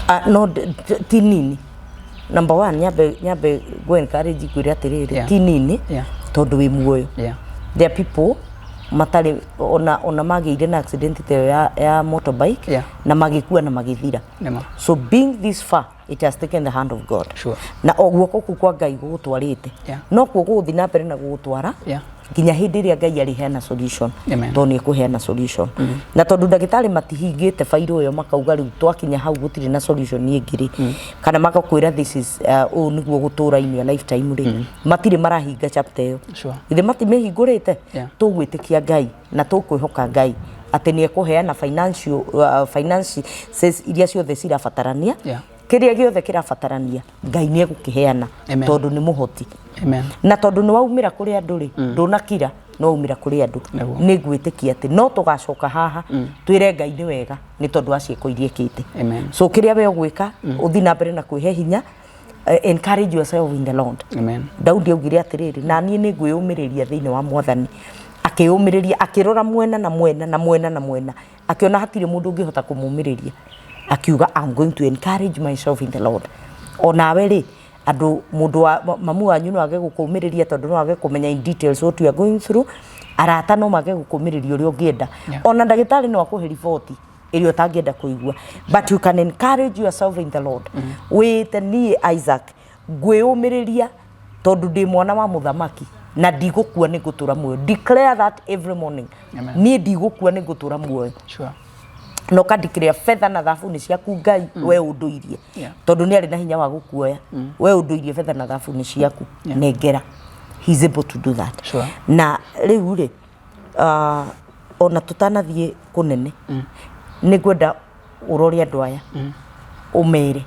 Uh, no ti nini number one nyambe nyambe go encourage kwire atiriri yeah. ti nini yeah. tondu wi muoyo yeah. there are people matari ona ona magire na accident te ya, ya motorbike yeah. na magikua na magithira so being this far it has taken the hand of god Sure. na o guoko kuu kwa ngai gũgũtwarĩte Yeah. no kuo gũgũthiĩ na mbere na gũgũtwara Yeah. nginya hĩndĩ ĩrĩa ngai arĩheana solution Amen. tondũ nĩ ekũheana solution na tondũ ndagĩtarĩ matihingĩte bairũ ĩyo makauga rĩu twakinya hau gũtirĩ na solution ĩngĩ rĩ kana magakwĩra this is uh, ũũ nĩguo gũtũra-inĩ a lifetime rĩ matirĩ marahinga chapter ĩyo Sure. ithe matimĩhingũrĩte Yeah. tũgwĩtĩkia ngai na tũkwĩhoka ngai atĩ nĩ ekũheana financial, uh, finances iria ciothe cirabatarania Yeah. kĩrĩa gĩothe kĩrabatarania ngai nĩ egũkĩheana Amen. tondũ nĩ mũhoti Amen. na tondũ nĩ waumĩra kũrĩ andũ rĩ ndũnakira no waumĩra kũrĩ andũ Nĩguo. nĩ ngwĩtĩkia atĩ no tũgacoka haha twĩre ngai nĩ wega nĩ tondũ wa ciĩko iria ĩkĩte Amen. so kĩrĩa we ũgwĩka ũthi na mbere na kwĩhe hinya Eh, encourage yourself in the Lord. Amen. Daudi augire atiriri na niĩ nĩ ngwĩyũmĩrĩria thĩinĩ wa mwathani akĩyũmĩrĩria akĩrora mwena na mwena na mwena na mwena akĩona hatirĩ mũndũ ũngĩhota kũmũmĩrĩria akiuga I'm going to encourage myself in the Lord o nawe rĩ andũ mũndũ wa ma- mamu wanyu no age gũkũmĩrĩria tondũ no age kũmenya in details what you are going through arata no mage gũkũmĩrĩria ũrĩa ũngĩenda ona ndagĩtarĩ no akũhe riboti ĩrĩa ũtangĩenda kũigua but you can encourage yourself in the lord wĩte niĩ isaac ngwĩyũmĩrĩria tondũ ndĩ mwana wa mũthamaki na ndigũkua nĩ ngũtũra muoyo declare that every morning Amen. niĩ ndigũkua nĩ ngũtũra muoyo Sure. na ũkandikĩrĩa betha na thabu nĩ ciaku ngai mm. we ũndũirie Yeah. tondũ nĩ arĩ na hinya wa gũkuoya mm. we ũndũirie betha na thabu nĩ ciaku Yeah. nengera He is able to do that Sure. na rĩu rĩ ah, ona tũtanathiĩ kũnene nĩ ngwenda ũrore andũ aya ũmere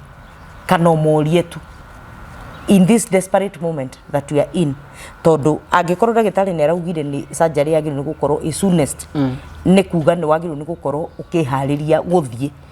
kana ũmorie tu in this desperate moment that we are in tondũ angĩkorwo ndagĩtarĩ nĩ araugire nĩ surgery yagĩrĩirwo nĩ gũkorwo ĩ soonest nĩ kuga nĩ wagĩrĩirwo nĩ gũkorwo ũkĩharĩria gũthiĩ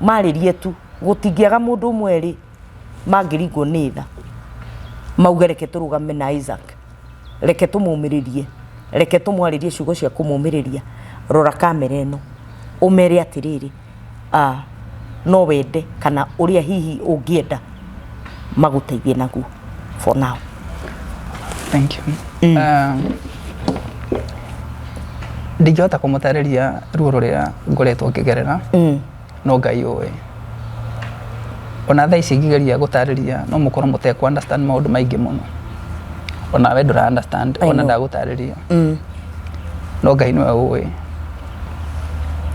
marĩrie tu gũtingĩaga mũndũ ũmwe rĩ mangĩringwo nĩ tha mauge reke tũrũgame na Isaac reke tũmũmĩrĩrie reke tũmwarĩrie ciugo cia kũmũmĩrĩria rora kamera ĩno ũmere atĩrĩrĩ ah, no wende kana ũrĩa hihi ũngĩenda magũteithie naguo for now Thank you. Mm. Um, ndingĩhota kũmũtarĩria ruo rũrĩa ngoretwo ngĩgerera mm. no ngai ũĩ ona thaa ici ngĩgeria gũtarĩria no mũkorwo mũtekũ understand maũndũ maingĩ mũno ona we ndũra understand I ona know. ndagũtarĩria Mm. no ngai nĩwe ũĩ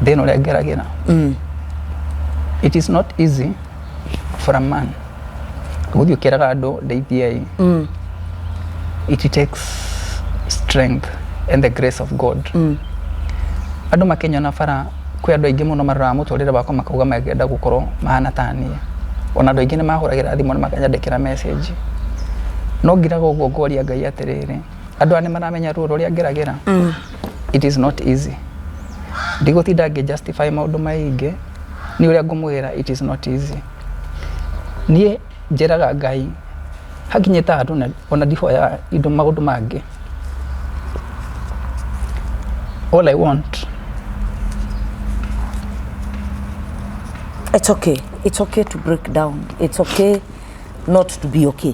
thĩna ũrĩa ngeragĩra mm. it is not easy for a man gũthiĩ ũkĩraga andũ ndeithiai mm. it takes strength and the grace of god mm. andũ makenyona bara kwĩ andũ aingĩ mũno maroraga mũtũrĩre wakwa makauga mangĩenda gũkorwo mahana ta niĩ ona andũ aingĩ nĩ mahũragĩra thimũ na makanyandĩkĩra message no ngiraga ũguo ngoria ngai atĩrĩrĩ andũ aya nĩ maramenya ruo rũrĩa ngeragĩra mm. it is not easy ndigũtinda ngĩ justify maũndũ maingĩ nĩ ũrĩa ngũmwĩra it is not easy niĩ njĩraga ngai hakinyĩte handũ na- ona ndihoya indo maũndũ mangĩ all i want It's okay. It's okay to break down. It's okay not to be okay.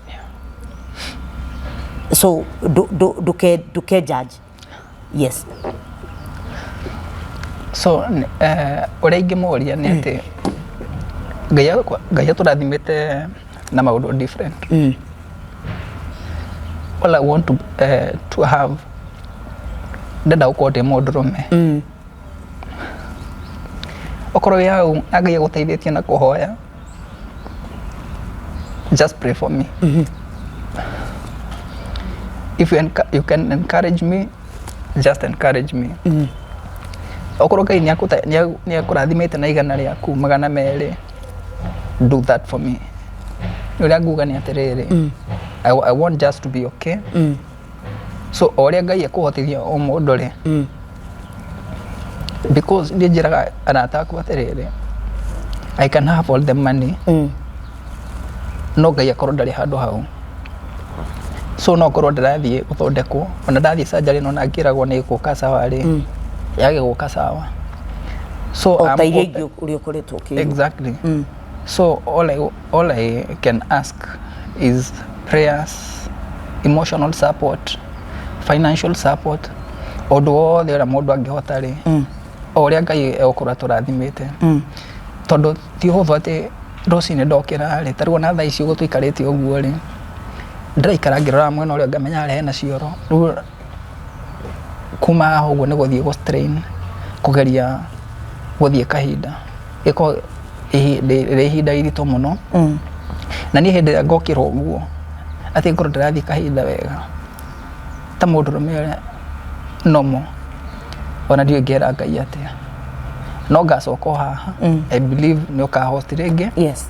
so ndu- ndu- nduke- nduke judge yes so n- eh, ũrĩa ingĩmũria nĩ atĩ ngai akwa- ngai atũrathimĩte na maũndũ different Mm. all i want to, eh, to have ndenda gũkorwo ndĩ mũndũrũme Mm. okorwo wĩ hau na ngai agũteithĩtie na kũhoya just pray for me if you, enc- you can encourage me just encourage me okorwo ngai nĩakũta- nĩa- nĩakũrathimĩte na igana rĩaku magana merĩ do that for me ũrĩa nguga nĩ atĩrĩrĩ I, I want just to be okay so o ũrĩa ngai ekũhotithia o mũndũ rĩ Mm. because nĩ njĩraga arata akwa atĩrĩrĩ i can have all the money Mm. no ngai akorwo ndarĩ handũ hau so no korwo ndĩrathiĩ gũthondekwo ona ndathiĩ sanjarĩ no na ngĩragwo nĩ gũka sawarĩ Mm. yage gũka sawa so O I'm ta iria open- ingĩ ũrĩa ũkoretwo ũkĩigua. exactly Mm. so all I, All I can ask is prayers, emotional support, financial support, ũndũ wothe ũrĩa mũndũ angĩhota rĩ o ũrĩa ngai egũkorwo atũrathimĩte tondũ ti ũhũthũ atĩ rũcinĩ ndokĩra rĩ tarĩu ona thaa ici ũguo tũikarĩte ũguo rĩ ndĩraikara ngĩrora mwena ũrĩa ngamenya harĩa hena cioro Rĩu kuma haha ũguo nĩ gũthiĩ gũ strain kũgeria gũthiĩ kahinda gĩkoragwo ĩhi- ndĩ- rĩ ihinda iritũ mũno Mm. na niĩ hĩndĩ ĩrĩa ngokĩrwo ũguo atĩ ngorwo ndĩrathiĩ kahinda wega ta mũndũ rũme ũrĩa nomo ona ndiũ ngera ngai atĩa no ngacoka o haha Mm. i believe nĩ ũkahoti rĩngĩ yes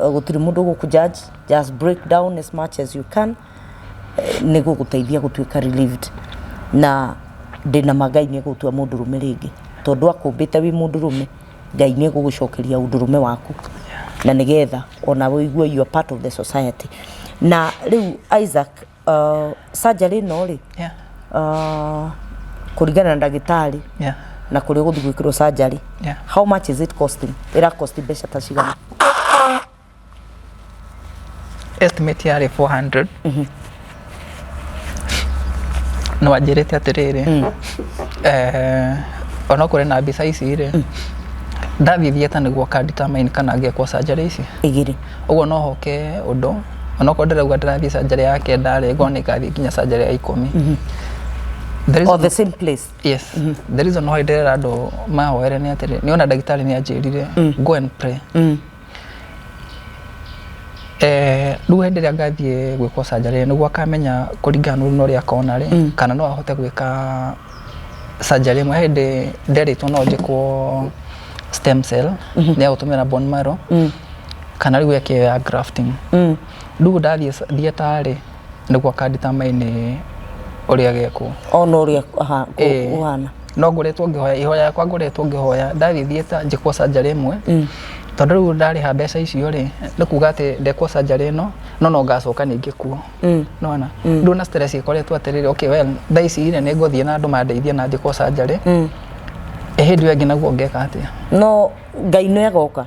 eh, gũtirĩ mũndũ gũkũ judge just break down as much as you can eh, nĩ gũgũteithia gũtuĩka relieved na ndĩna ma ngai nĩ gũtua mũndũ rũme rĩngĩ tondũ akũmbĩte wĩ mũndũ rũme ngai nĩ gũgũcokeria ũndũ rũme waku na nĩgetha ona wĩigue you are part of the society na rĩu isaac Uh, surgery ĩno rĩ Yeah. uh, kũringana na ndagĩtarĩ Yeah. na kũrĩa ũgũthiĩ gwĩkĩrwo surgery Yeah. how much is it costing ĩra cost mbeca ta cigana Estimate yarĩ 400. No anjĩrĩte atĩrĩrĩ. Eh, ona kũrĩ na mbica ici rĩ. Ndathiĩ theater nĩguo ka determine kana ngĩkwo surgery ici. igĩrĩ Ũguo no hoke ũndũ onokorwo ndĩrauga ndĩrathiĩ canjarĩ ya kenda rĩ ngona igathiĩ nginya canjarĩ ya ikũmi mhm. There is or the same place yes mm -hmm. the reason why ndĩrera andũ mahoere nĩ atĩrĩ nĩ ona ndagĩtarĩ nĩ anjĩrire mm. go and pray mm. Eh, rĩu hĩndĩ ĩrĩa ngathiĩ gwĩkwo canjarĩ nĩguo akamenya kũringana na ũruna ũrĩa akona rĩ mm. kana no ahote gwĩka canjarĩ ĩmwe hĩndĩ nderĩtwo no njĩkwo stem cell mm -hmm. nĩ agũtũmĩra bone marrow mm. kana rĩu eke ya grafting mm. rĩu ndathiĩ theater rĩ nĩguo akanditamainĩ ũrĩa gekwo ona ũrĩa ũhana no ngoretwo ngĩhoya ihoya yakwa ngoretwo ngĩhoya ndathiĩ theater njĩkwo surgery ĩmwe mm. tondũ rĩu ndarĩha mbeca icio rĩ nĩ kuga atĩ ndekwo surgery ĩno no no ngacoka ningĩ kuo mm. nona mm. rĩu na stress ĩkoretwo atĩrĩrĩ okay well thaa ici rĩ nĩ ngũthiĩ na andũ mandeithie na njĩkwo surgery mm. ĩhĩndĩ ĩyo ĩngĩ naguo ngeka atĩa no ngai nĩ agoka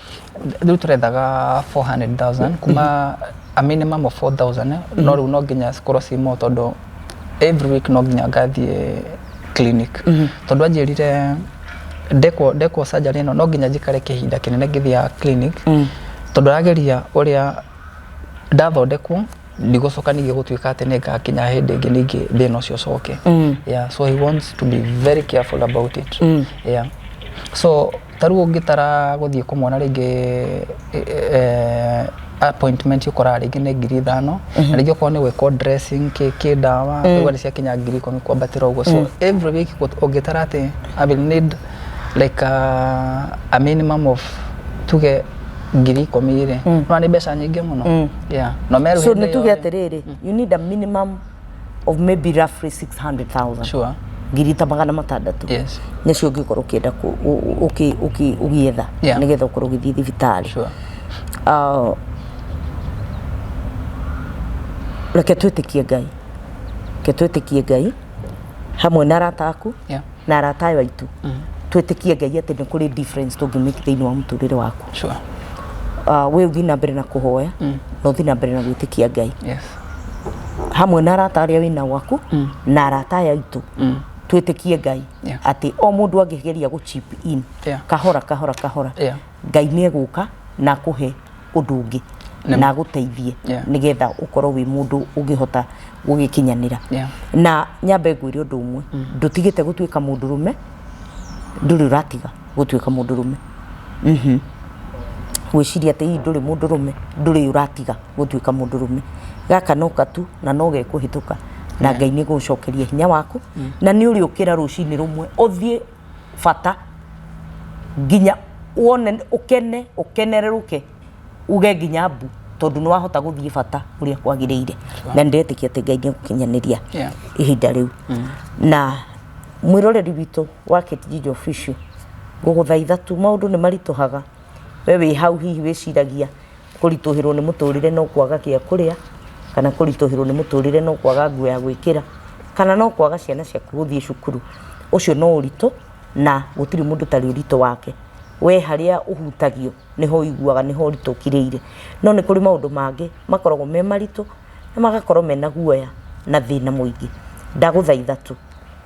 rĩu tũrethaga 400,000 kuma a minimum of 4,000 no rĩu no nginya cikorwo ci mo tondũ every week no nginya ngathiĩ clinic tondũ anjĩrire ndekwo ndekwo surgery ĩno no nginya njikare kĩhinda kĩnene ngĩthiaga clinic tondũ arageria ũrĩa ndathondekwo ndigũcoka ningĩ gũtuĩka atĩ nĩ ngakinya hĩndĩ ĩngĩ ningĩ thĩna ũcio ũcoke yeah so he wants to be very careful about it yeah so ta rĩu ũngĩtara gũthiĩ kũmwona rĩngĩ appointment ũkoraga rĩngĩ nĩ ngiri ithano na rĩngĩ okorwo nĩ gwĩkwo dressing kĩ kĩ ndawa ũguo nĩ ciakinya ngiri ikũmi kwambatĩra ũguo so every week ũngĩtara atĩ I will need like a, a minimum of tuge ngiri ikũmi rĩ nĩwona nĩ mbeca nyingĩ mũno yeah no so nĩ meruhĩte tuge atĩrĩrĩ you need a minimum of maybe roughly 600,000 sure ngiri ta magana matandatå yes nĩcio ũngĩkorwo ũkĩenda kũ- ũ- ũ- ũkĩ- ũkĩ- ũgĩetha Yeah. nĩgetha ũkorwo ũgĩthiĩ thibitarĩ sure Ah, reke twĩtĩkie ngai reke twĩtĩkie ngai hamwe na arata aku yeah na arata ayo aitũ twĩtĩkie ngai atĩ nĩ kũrĩ difference tũngĩmĩki thĩinĩ wa mũtũrĩre waku Sure. Ah, we ũthiĩ na mbere na kũhoya na ũthiĩ na mbere na gwĩtĩkia ngai Yes. hamwe na arata arĩa wĩna gwaku na arata aya aitũ twĩtĩkie ngai Yeah. atĩ o mũndũ angĩgeria gũ chip in Yeah. kahora kahora kahora Yeah. ngai nĩ egũka na akũhe ũndũ ũngĩ Nĩ- na agũteithie Yeah. nĩgetha ũkorwo wĩ mũndũ ũngĩhota gũgĩkinyanĩra Yeah. na nyambe ngwĩre ũndũ ũmwe ndũtigĩte gũtuĩka mũndũrũme ndũrĩ ũratiga gũtuĩka mũndũrũme Mhm. gwĩciria atĩ hihi ndũrĩ mũndũrũme ndũrĩ ũratiga gũtuĩka mũndũrũme gaka no katu na no gekũhĩtũka na ngai nĩ gũcokeria hinya waku na nĩ ũrĩũkĩra rũcinĩ rũmwe ũthiĩ bata nginya wone ũkene ũkenerũrũke uge nginya mbu tondũ nĩ wahota gũthiĩ bata ũrĩa kwagĩrĩire na ndĩretĩkia atĩ ngai nĩ gũkinyanĩria Yeah. ihinda rĩu na mwĩroreri witũ wa kĩtijinjo official ngũgũthaitha tu maũndũ nĩ maritũhaga we wĩ hau hihi wĩciragia kũritũhĩrwo nĩ mũtũrĩre no kwaga gĩa kũrĩa, kana kũritũhĩrwo nĩ mũtũrĩre no kwaga nguo ya gwĩkĩra, kana no kwaga ciana ciaku gũthiĩ cukuru. Ũcio no ũritũ na gũtirĩ mũndũ ũtarĩ ũritũ wake. We harĩa ũhutagio nĩho ũiguaga nĩho ũritũ ũkirĩire. No nĩ kũrĩ maũndũ mangĩ makoragwo me maritũ na magakorwo mena guoya na thĩna mũingĩ. Ndagũthaitha tu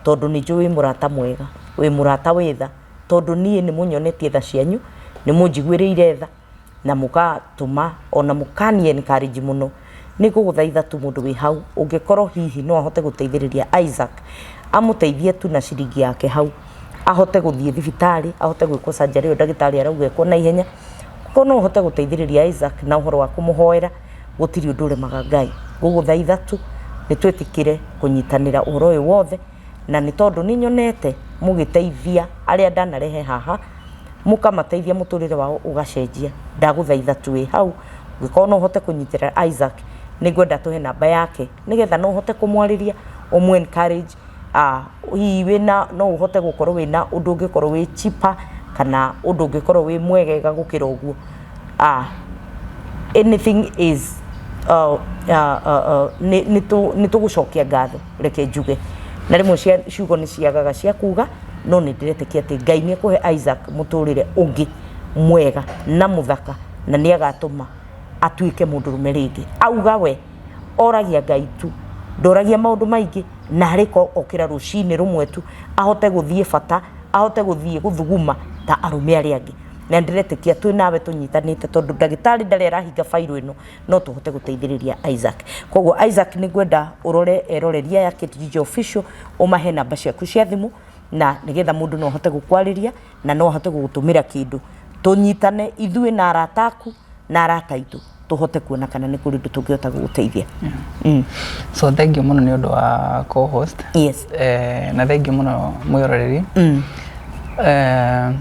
tondũ nĩ njũĩ wĩ mũrata mwega, wĩ mũrata wĩ tha, tondũ niĩ nĩ mũnyonetie tha cianyu, nĩ mũnjiguĩrĩire tha. na mũgatũma ona mũkani encourage mũno nĩ ngũgũthaitha tu mũndũ wĩ hau ũngĩkorwo hihi no ahote gũteithĩrĩria Isaac amũteithie tu na ciringi yake hau ahote gũthiĩ thibitarĩ ahote gwĩkwo surgery ĩyo ndagĩtarĩ arauga ĩkwo na ihenya ko no ũhote gũteithĩrĩria Isaac na ũhoro wa kũmũhoera gũtirĩ ũndũ ũremaga Ngai ngũgũthaitha tu nĩ twĩtĩkĩre kũnyitanĩra ũhoro ũyũ wothe. na nĩ tondũ nĩ nyonete mũgĩteithia arĩa ndanarehe haha, mũkamateithia mũtũrĩre wao ũgacenjia. Ndagũthaitha twĩ hau, ũngĩkorwo no ũhote kũnyitĩrĩra Isaac, nĩ ngwenda tũhe namba yake, nĩ getha no ũhote kũmwarĩria, ũmũ encourage, hihi wĩna, no ũhote gũkorwo wĩna ũndũ ũngĩkorwo wĩ cheaper, kana ũndũ ũngĩkorwo wĩ mwegega gũkĩra ũguo. a anything is uh, uh, uh, uh, nĩ- nĩ tũ- nĩ tũgũcokia ngatho reke njuge na rĩmwe cia- ciugo nĩ ciagaga cia kuga no nĩ ndĩretĩkia atĩ ngai nĩ ekũhe isaac mũtũrĩre ũngĩ mwega na mũthaka na nĩ agatũma atuĩke mũndũ rũme rĩngĩ auga we oragia ngai tu ndoragia maũndũ maingĩ na arĩko okĩra rũcinĩ rũmwe tu ahote gũthiĩ bata ahote gũthiĩ gũthuguma ta arũme arĩa angĩ na ndiretĩkia twĩ nawe tũnyitanĩte tondũ ndagĩtarĩ ndarĩ arahinga bairũ ĩno no tũhote gũteithĩrĩria Isaac koguo Isaac nĩ ngwenda ũrore eroreria ya KTG official ũmahe namba ciaku cia thimũ na nĩgetha mũndũ no ahote gũkwarĩria na no ahote gũgũtũmĩra kĩndũ tũnyitane ithuĩ na arata aku na arata aitũ tũhote kuona kana nĩ kũrĩ ũndũ tũngĩhota gũgũteithia. Mm. So thank you mũno nĩ ũndũ wa co-host. Yes. Eh, na thank you mũno mwĩroreri. Mm. Eh,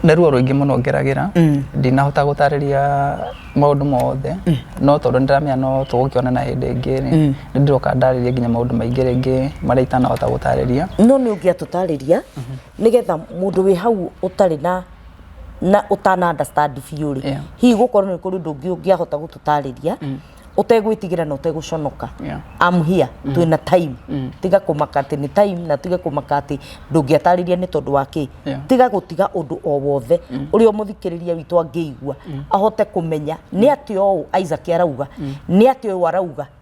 nĩ ruo rũingĩ mũno ngeragĩra Mm. ndinahota gũtarĩria maũndũ mothe no tondũ nĩ ndĩramenya no tũgũkĩonana hĩndĩ ĩngĩ rĩ, nĩ ndĩroka ndarĩrie nginya maũndũ maingĩ rĩngĩ marĩa itanahota gũtarĩria no nä å ngä atå tarä ria nä getha må ndå wä hau å tarä na na ũtana understand biũ rĩ Yeah. hihi gũkorwo nĩ kũrĩ ũndũ ũngĩ ũngĩahota gũtũtarĩria ũtegwĩtigĩra na ũtegũconoka Yeah. am here twĩna time tiga kũmaka atĩ nĩ time na tiga kũmaka atĩ ndũngĩatarĩria nĩ tondũ wa kĩ Yeah. tiga gũtiga ũndũ o wothe ũrĩa mũthikĩrĩria witũ angĩigua ahote kũmenya nĩ atĩ ũũ Isaac arauga nĩ atĩ ũyũ arauga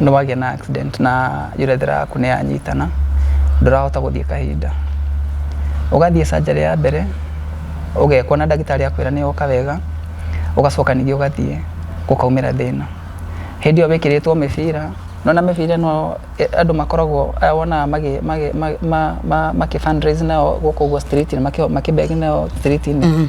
nĩ wagĩa na accident na urethra yaku nĩ yanyitana, ndũrahota gũthiĩ kahinda. Ũgathiĩ surgery ya mbere, ũgekwo na ndagĩtarĩ akwĩra nĩ yoka wega, ũgacoka ningĩ ũgathiĩ gũkaumĩra thĩna. Hĩndĩ ĩyo wĩkĩrĩtwo mĩbira, nĩ wona mĩbira ĩno andũ makoragwo aya wonaga magĩ magĩ ma ma makĩ fund raise nayo gũkũ ũguo street makĩ beg nayo street -inĩ?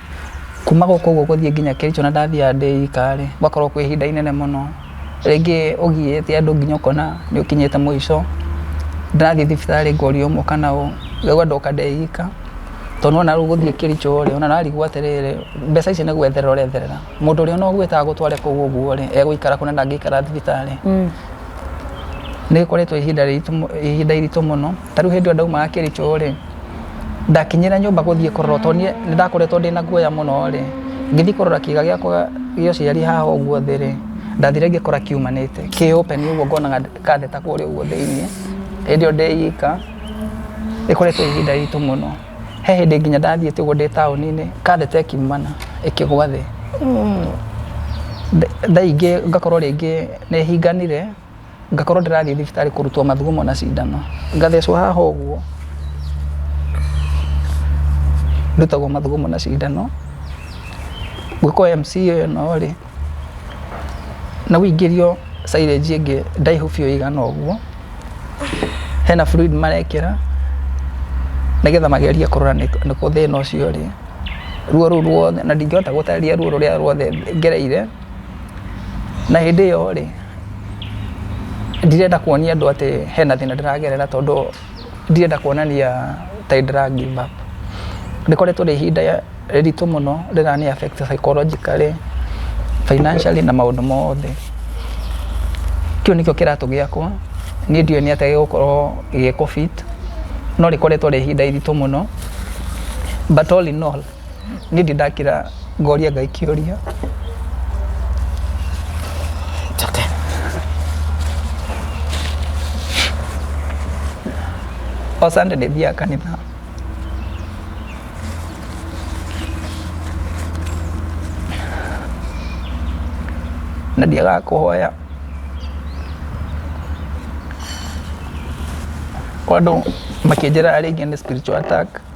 Kuma gũkũ ũguo gũthiĩ nginya Kericho na ndathiaga ndĩ ika rĩ, gũgakorwo kwĩ ihinda inene mũno. Rĩngĩ ũgiĩte andũ nginya ũkona nĩ ũkinyĩte mũico. Ndĩrathiĩ thibitarĩ ngorio ũũ kana ũũ, ngaigua ndoka ndĩ ika. Tondũ nĩ wona rĩu gũthiĩ Kericho rĩ, ona ũrarigwo atĩrĩrĩ, mbeca icio nĩ gwetherera ũretherera. Mũndũ ũrĩa ona ũgwĩta agũtware kũu ũguo rĩ, egũikara kũ na ndangĩikara thibitarĩ. Nĩ rĩkoretwo ihinda rĩritũ, ihinda iritũ mũno. ta rĩu hĩndĩ ĩyo ndaumaga kĩrĩcho rĩ ndakinyĩra nyũmba gũthiĩ kũrora tondũ niĩ nĩ ndakoretwo ndĩ na guoya mũno rĩ ngĩthiĩ kũrora kĩga gĩakwa gĩa ũciari haha ũguo thĩ rĩ ndathire ngĩkora kiumanĩte kĩ open ũguo ngonaga katheta kũrĩa ũguo thĩinĩ hĩndĩ ĩyo ndĩ ika ĩkoretwo ihinda ritũ mũno he hĩndĩ nginya ndathiĩte ũguo ndĩ taũni-inĩ katheta ĩkiumana ĩkĩgwa thĩ Nda- thaa ingĩ ngakorwo rĩngĩ nĩhinganire ngakorwo ndĩrathiĩ thibitarĩ kũrutwo mathugumo na cindano ngathecwo haha ũguo ndutagwo mathugumo na cindano gwĩkwo MC ĩno rĩ na ũingĩrio silage ĩngĩ ndaihu biũ ĩigana ũguo hena fluid marekĩra nĩgetha magerie kũrora nĩ kũ thĩna ũcio ũrĩ ruo rũu ruothe na ndingĩhota gũtarĩria ruo rũrĩa ruothe ngereire. Na hĩndĩ ĩyo rĩ, ndirenda kuonia andũ atĩ hena thĩna ndĩragerera tondũ ndirenda kuonania ta nĩ ndĩra give up. Rĩkoretwo rĩ ihinda rĩritũ mũno rĩrani affect psychologically, financially na maũndũ mothe. Kĩu nĩkĩo kĩratũ gĩakwa, niĩ ndiũĩ nĩ atĩa gĩgũkorwo gĩgĩkũ fit no rĩkoretwo rĩ ihinda iritũ mũno but all in all... niĩ ndĩ ndakĩra ngoria ngai kĩũria Njoke. o sande ndĩ thiaga kanitha na ndiagaga kũhoya kwa andũ makĩnjĩra arĩa ingĩ nĩ spiritual attack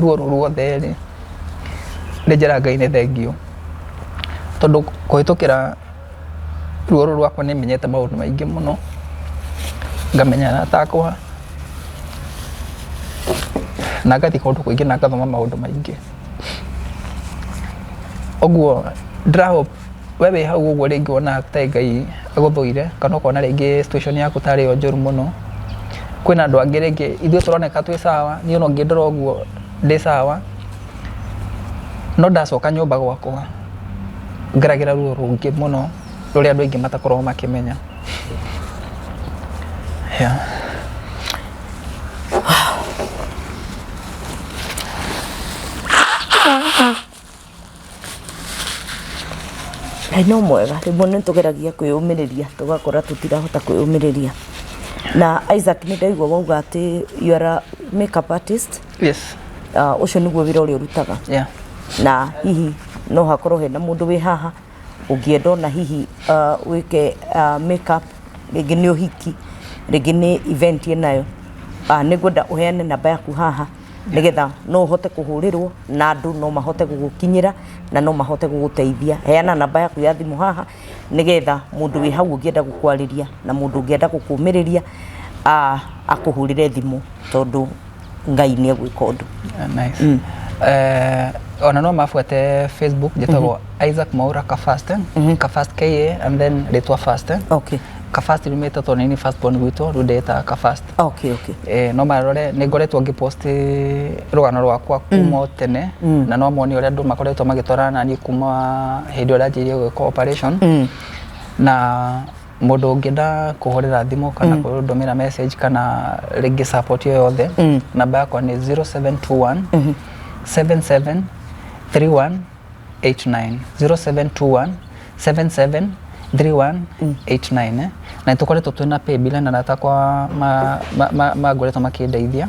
ruorũ ruothe rĩ, nĩ njĩra Ngai nĩ thengiũ. Tondũ kũhĩtũkĩra ruorũ rwakwa nĩ menyete maũndũ maingĩ mũno, ngamenya arata akwa, na ngathiĩ kũndũ kũingĩ na ngathoma maũndũ maingĩ. Ũguo ndĩra hope. we wĩ hau ũguo rĩngĩ wona ta ngai agũthũire kana ũkona rĩngĩ situation yaku tarĩ yo njũru mũno kwĩna andũ angĩ rĩngĩ ithuĩ tũroneka twĩ sawa niĩ ona ũngĩ ndora ũguo ndĩ sawa no ndacoka nyũmba gwakwa ngeragĩra ruo rũngĩ mũno rũrĩa andũ aingĩ matakoragwo makĩmenya yeah. Ngai no mwega rĩmwe nĩ tũgeragia kwĩyũmĩrĩria tũgakora tũtirahota kwĩyũmĩrĩria na Isaac nĩ ndaigua wauga atĩ you are a makeup artist yes ah, ũcio nĩguo wĩra ũrĩa ũrutaga yeah na hihi no hakorwo hena mũndũ wĩ haha ũngĩenda ona hihi wĩke make up rĩngĩ nĩ ũhiki, rĩngĩ nĩ event ĩnayo, nĩ ngwenda ũheane namba yaku haha nĩ getha no ũhote kũhũrĩrwo na andũ no mahote gũgũkinyĩra na no mahote gũgũteithia. Heana namba yaku ya thimũ haha nĩ getha mũndũ wĩ hau ũngĩenda gũkwarĩria na mũndũ ũngĩenda gũkũmĩrĩria akũhũrĩre thimũ tondũ ngai nä egwä ka å ndå Nice. Mm. Eh, ona no mabuate facebook njĩtagwo isaac maura kafast kafast ka and then rĩtwa fast okay. kafast riumĩte tondũ nini fast born gwitũ rĩu ndĩĩtaga kafast okay, okay. Eh, no marore nĩ ngoretwo ngĩpost rũgano rwakwa kuma o tene na no moni ũrĩa andũ makoretwo magĩtwarana naniĩ kuma hĩndĩ ĩrĩa njirie gwĩka operation na mũndũ ũngĩenda kũhũrĩra thimũ kana mm. kũndũmĩra message kana rĩngĩ support yo yothe mm. namba yakwa nĩ 0721 mm -hmm. 773189 0721 77 3189 na nä tå koretwo twä na paybill na rata kwa mangoretwo makä ndeithia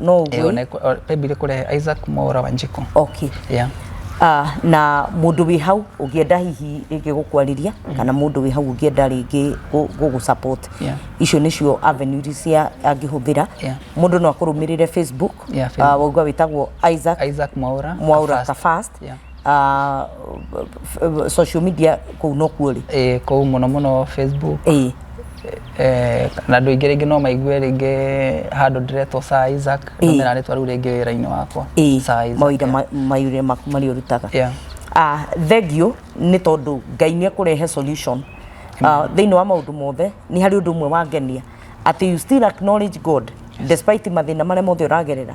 no Eh, ũguo ona ĩkũ- o- paybill ĩkũrehe isaac mwaura wa njiko okay yeah. Ah, na mundu wi hau ungienda hihi ringi gukwarĩria kana mundu wi hau ungienda ringi gugu support Yeah. icio nicio avenue iria cia angihuthira Yeah. mundu no akurumirire facebook Yeah, Facebook. Ah, waigua witagwo Isaac isaac mwaura mwaura Kafast. kafast Yeah. ah, social media kũu nokuo rĩ ĩĩ kũu mũno mũno facebook ĩĩ Eh, na andå aingä rä ngä no maigue rä ngä handå ndäretwo Isaac Ĩĩ. no mena rä twa rä u rä ngä wä ra-inä wakwa ĩĩ Sir Isaac, mawira yeah. ma- mawira maku marĩa ũrutaga Yeah. Ah, thengio nĩ tondũ ngai nĩ ekũrehe solution Ah, thĩinĩ wa maũndũ mothe nĩ harĩ ũndũ ũmwe wangenia atĩ you still acknowledge god despite mathĩna marĩa mothe ũragerera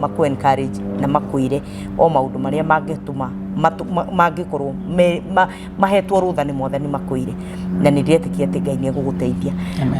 makũ encourage na makwĩre o maũndũ marĩa mangĩtũma mangĩkorwo mahetwo rũtha nĩ mwathani makwĩre na nĩ ndĩretĩkia atĩ ngai nĩ egũgũteithia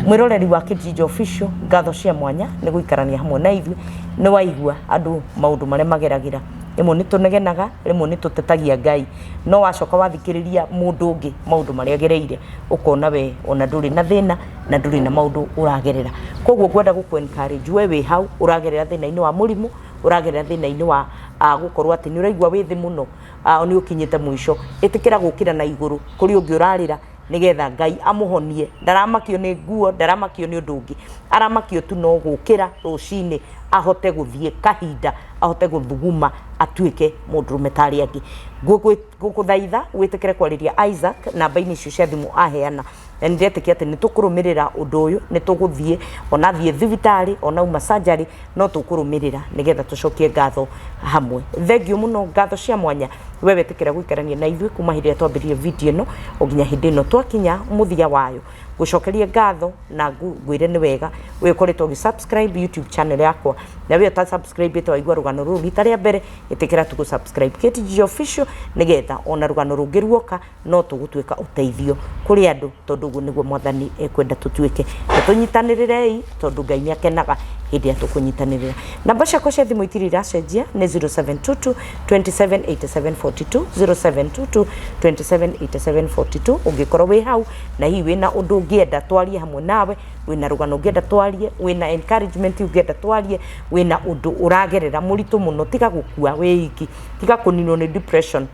mwĩroreri wa kĩjinja official ngatho cia mwanya nĩ gũikarania hamwe na ithuĩ nĩ waigua andũ maũndũ marĩa mageragĩra rĩmwe nĩ tũnegenaga rĩmwe nĩ tũtetagia ngai no wacoka wathikĩrĩria mũndũ ũngĩ maũndũ marĩa agereire ũkona we ona ndũrĩ na thĩna na ndũrĩ na maũndũ ũragerera koguo ngwenda gũkũ encourage we wĩ hau ũragerera thĩna-inĩ wa mũrimũ ũragerera thĩna-inĩ wa ah, gũkorwo atĩ nĩ ũraigua wĩ thĩ mũno ah, nĩ ũkinyĩte mũico ĩtĩkĩra gũkĩra na igũrũ kũrĩ ũngĩ ũrarĩra nĩgetha ngai amũhonie ndaramakio nĩ nguo ndaramakio nĩ ũndũ ũngĩ aramakio tu no gũkĩra rũcinĩ ahote gũthiĩ kahinda ahote gũthuguma atuĩke mũndũrũme ta arĩa angĩ Ngũgwĩ- ngũgũthaitha wĩtĩkĩre kwarĩria isaac namba-inĩ icio cia thimũ aheana na nĩ ndĩretĩkia atĩ nĩ tũkũrũmĩrĩra ũndũ ũyũ nĩ tũgũthiĩ ona athiĩ thibitarĩ ona uma sanjarĩ no tũkũrũmĩrĩra nĩgetha tũcokie ngatho hamwe thengiũ mũno ngatho cia mwanya we wetĩkĩra gũikarania na ithuĩ kuma hĩndĩ ĩrĩa twambĩrĩrie video ĩno o nginya hĩndĩ ĩno twakinya mũthia wayo ngucokerie ngatho na ngu- ngwire nĩ wega wĩ ũkoretwo ũgĩ subscribe youtube channel yakwa na wĩ ũta subscribe ĩte waigua rũgano rũrũ rita rĩa mbere ĩtĩkĩra tu gũ subscribe KTG official nĩgetha ona rũgano rũngĩ ruoka no tũgũtuĩka ũteithio kũrĩ andũ tondũ ũguo nĩguo mwathani ekwenda tũtuĩke na tũnyitanĩrĩrei tondũ ngai nĩ akenaga hĩndĩ ĩrĩa tũkũnyitanĩrĩra namba ciakwa cia thimũ itirĩ iracenjia nĩ 0722 278742 0722 278742 ũngĩkorwo wĩ hau na hihi wĩna ũndũ ũngĩenda twarie hamwe nawe, wĩna rũgano ũngĩenda twarie, wĩna encouragement ũngĩenda twarie, wĩna ũndũ ũragerera mũritũ mũno, tiga gũkua wĩ iki, tiga kũninwo nĩ depression,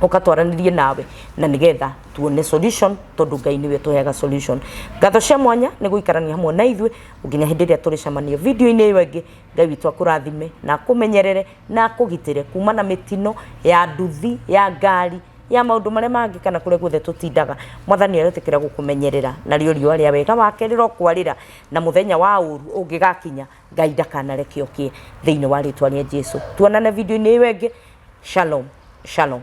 ũka twaranĩrie nawe na nĩgetha tuone solution tondũ Ngai nĩwe ũtũheaga solution. Ngatho cia mwanya nĩ gũikarania hamwe na ithuĩ nginya hĩndĩ ĩrĩa tũrĩcemania video-inĩ ĩyo ĩngĩ. Ngai witũ akũrathime na akũmenyerere na akũgitĩre kuma na mĩtino ya nduthi, ya ngari. ya maũndũ marĩa mangĩ kana kũrĩa guothe tũtindaga, mwathani aretĩkĩra gũkũmenyerera, narĩo riũa rĩa wega wake rĩrokwarĩra, na mũthenya wa ũũru ũngĩgakinya, Ngai ndakanareke ũkĩe, thĩinĩ wa rĩtwa rĩa Jesu. Tuonane video-inĩ ĩyo ĩngĩ, Shalom, Shalom.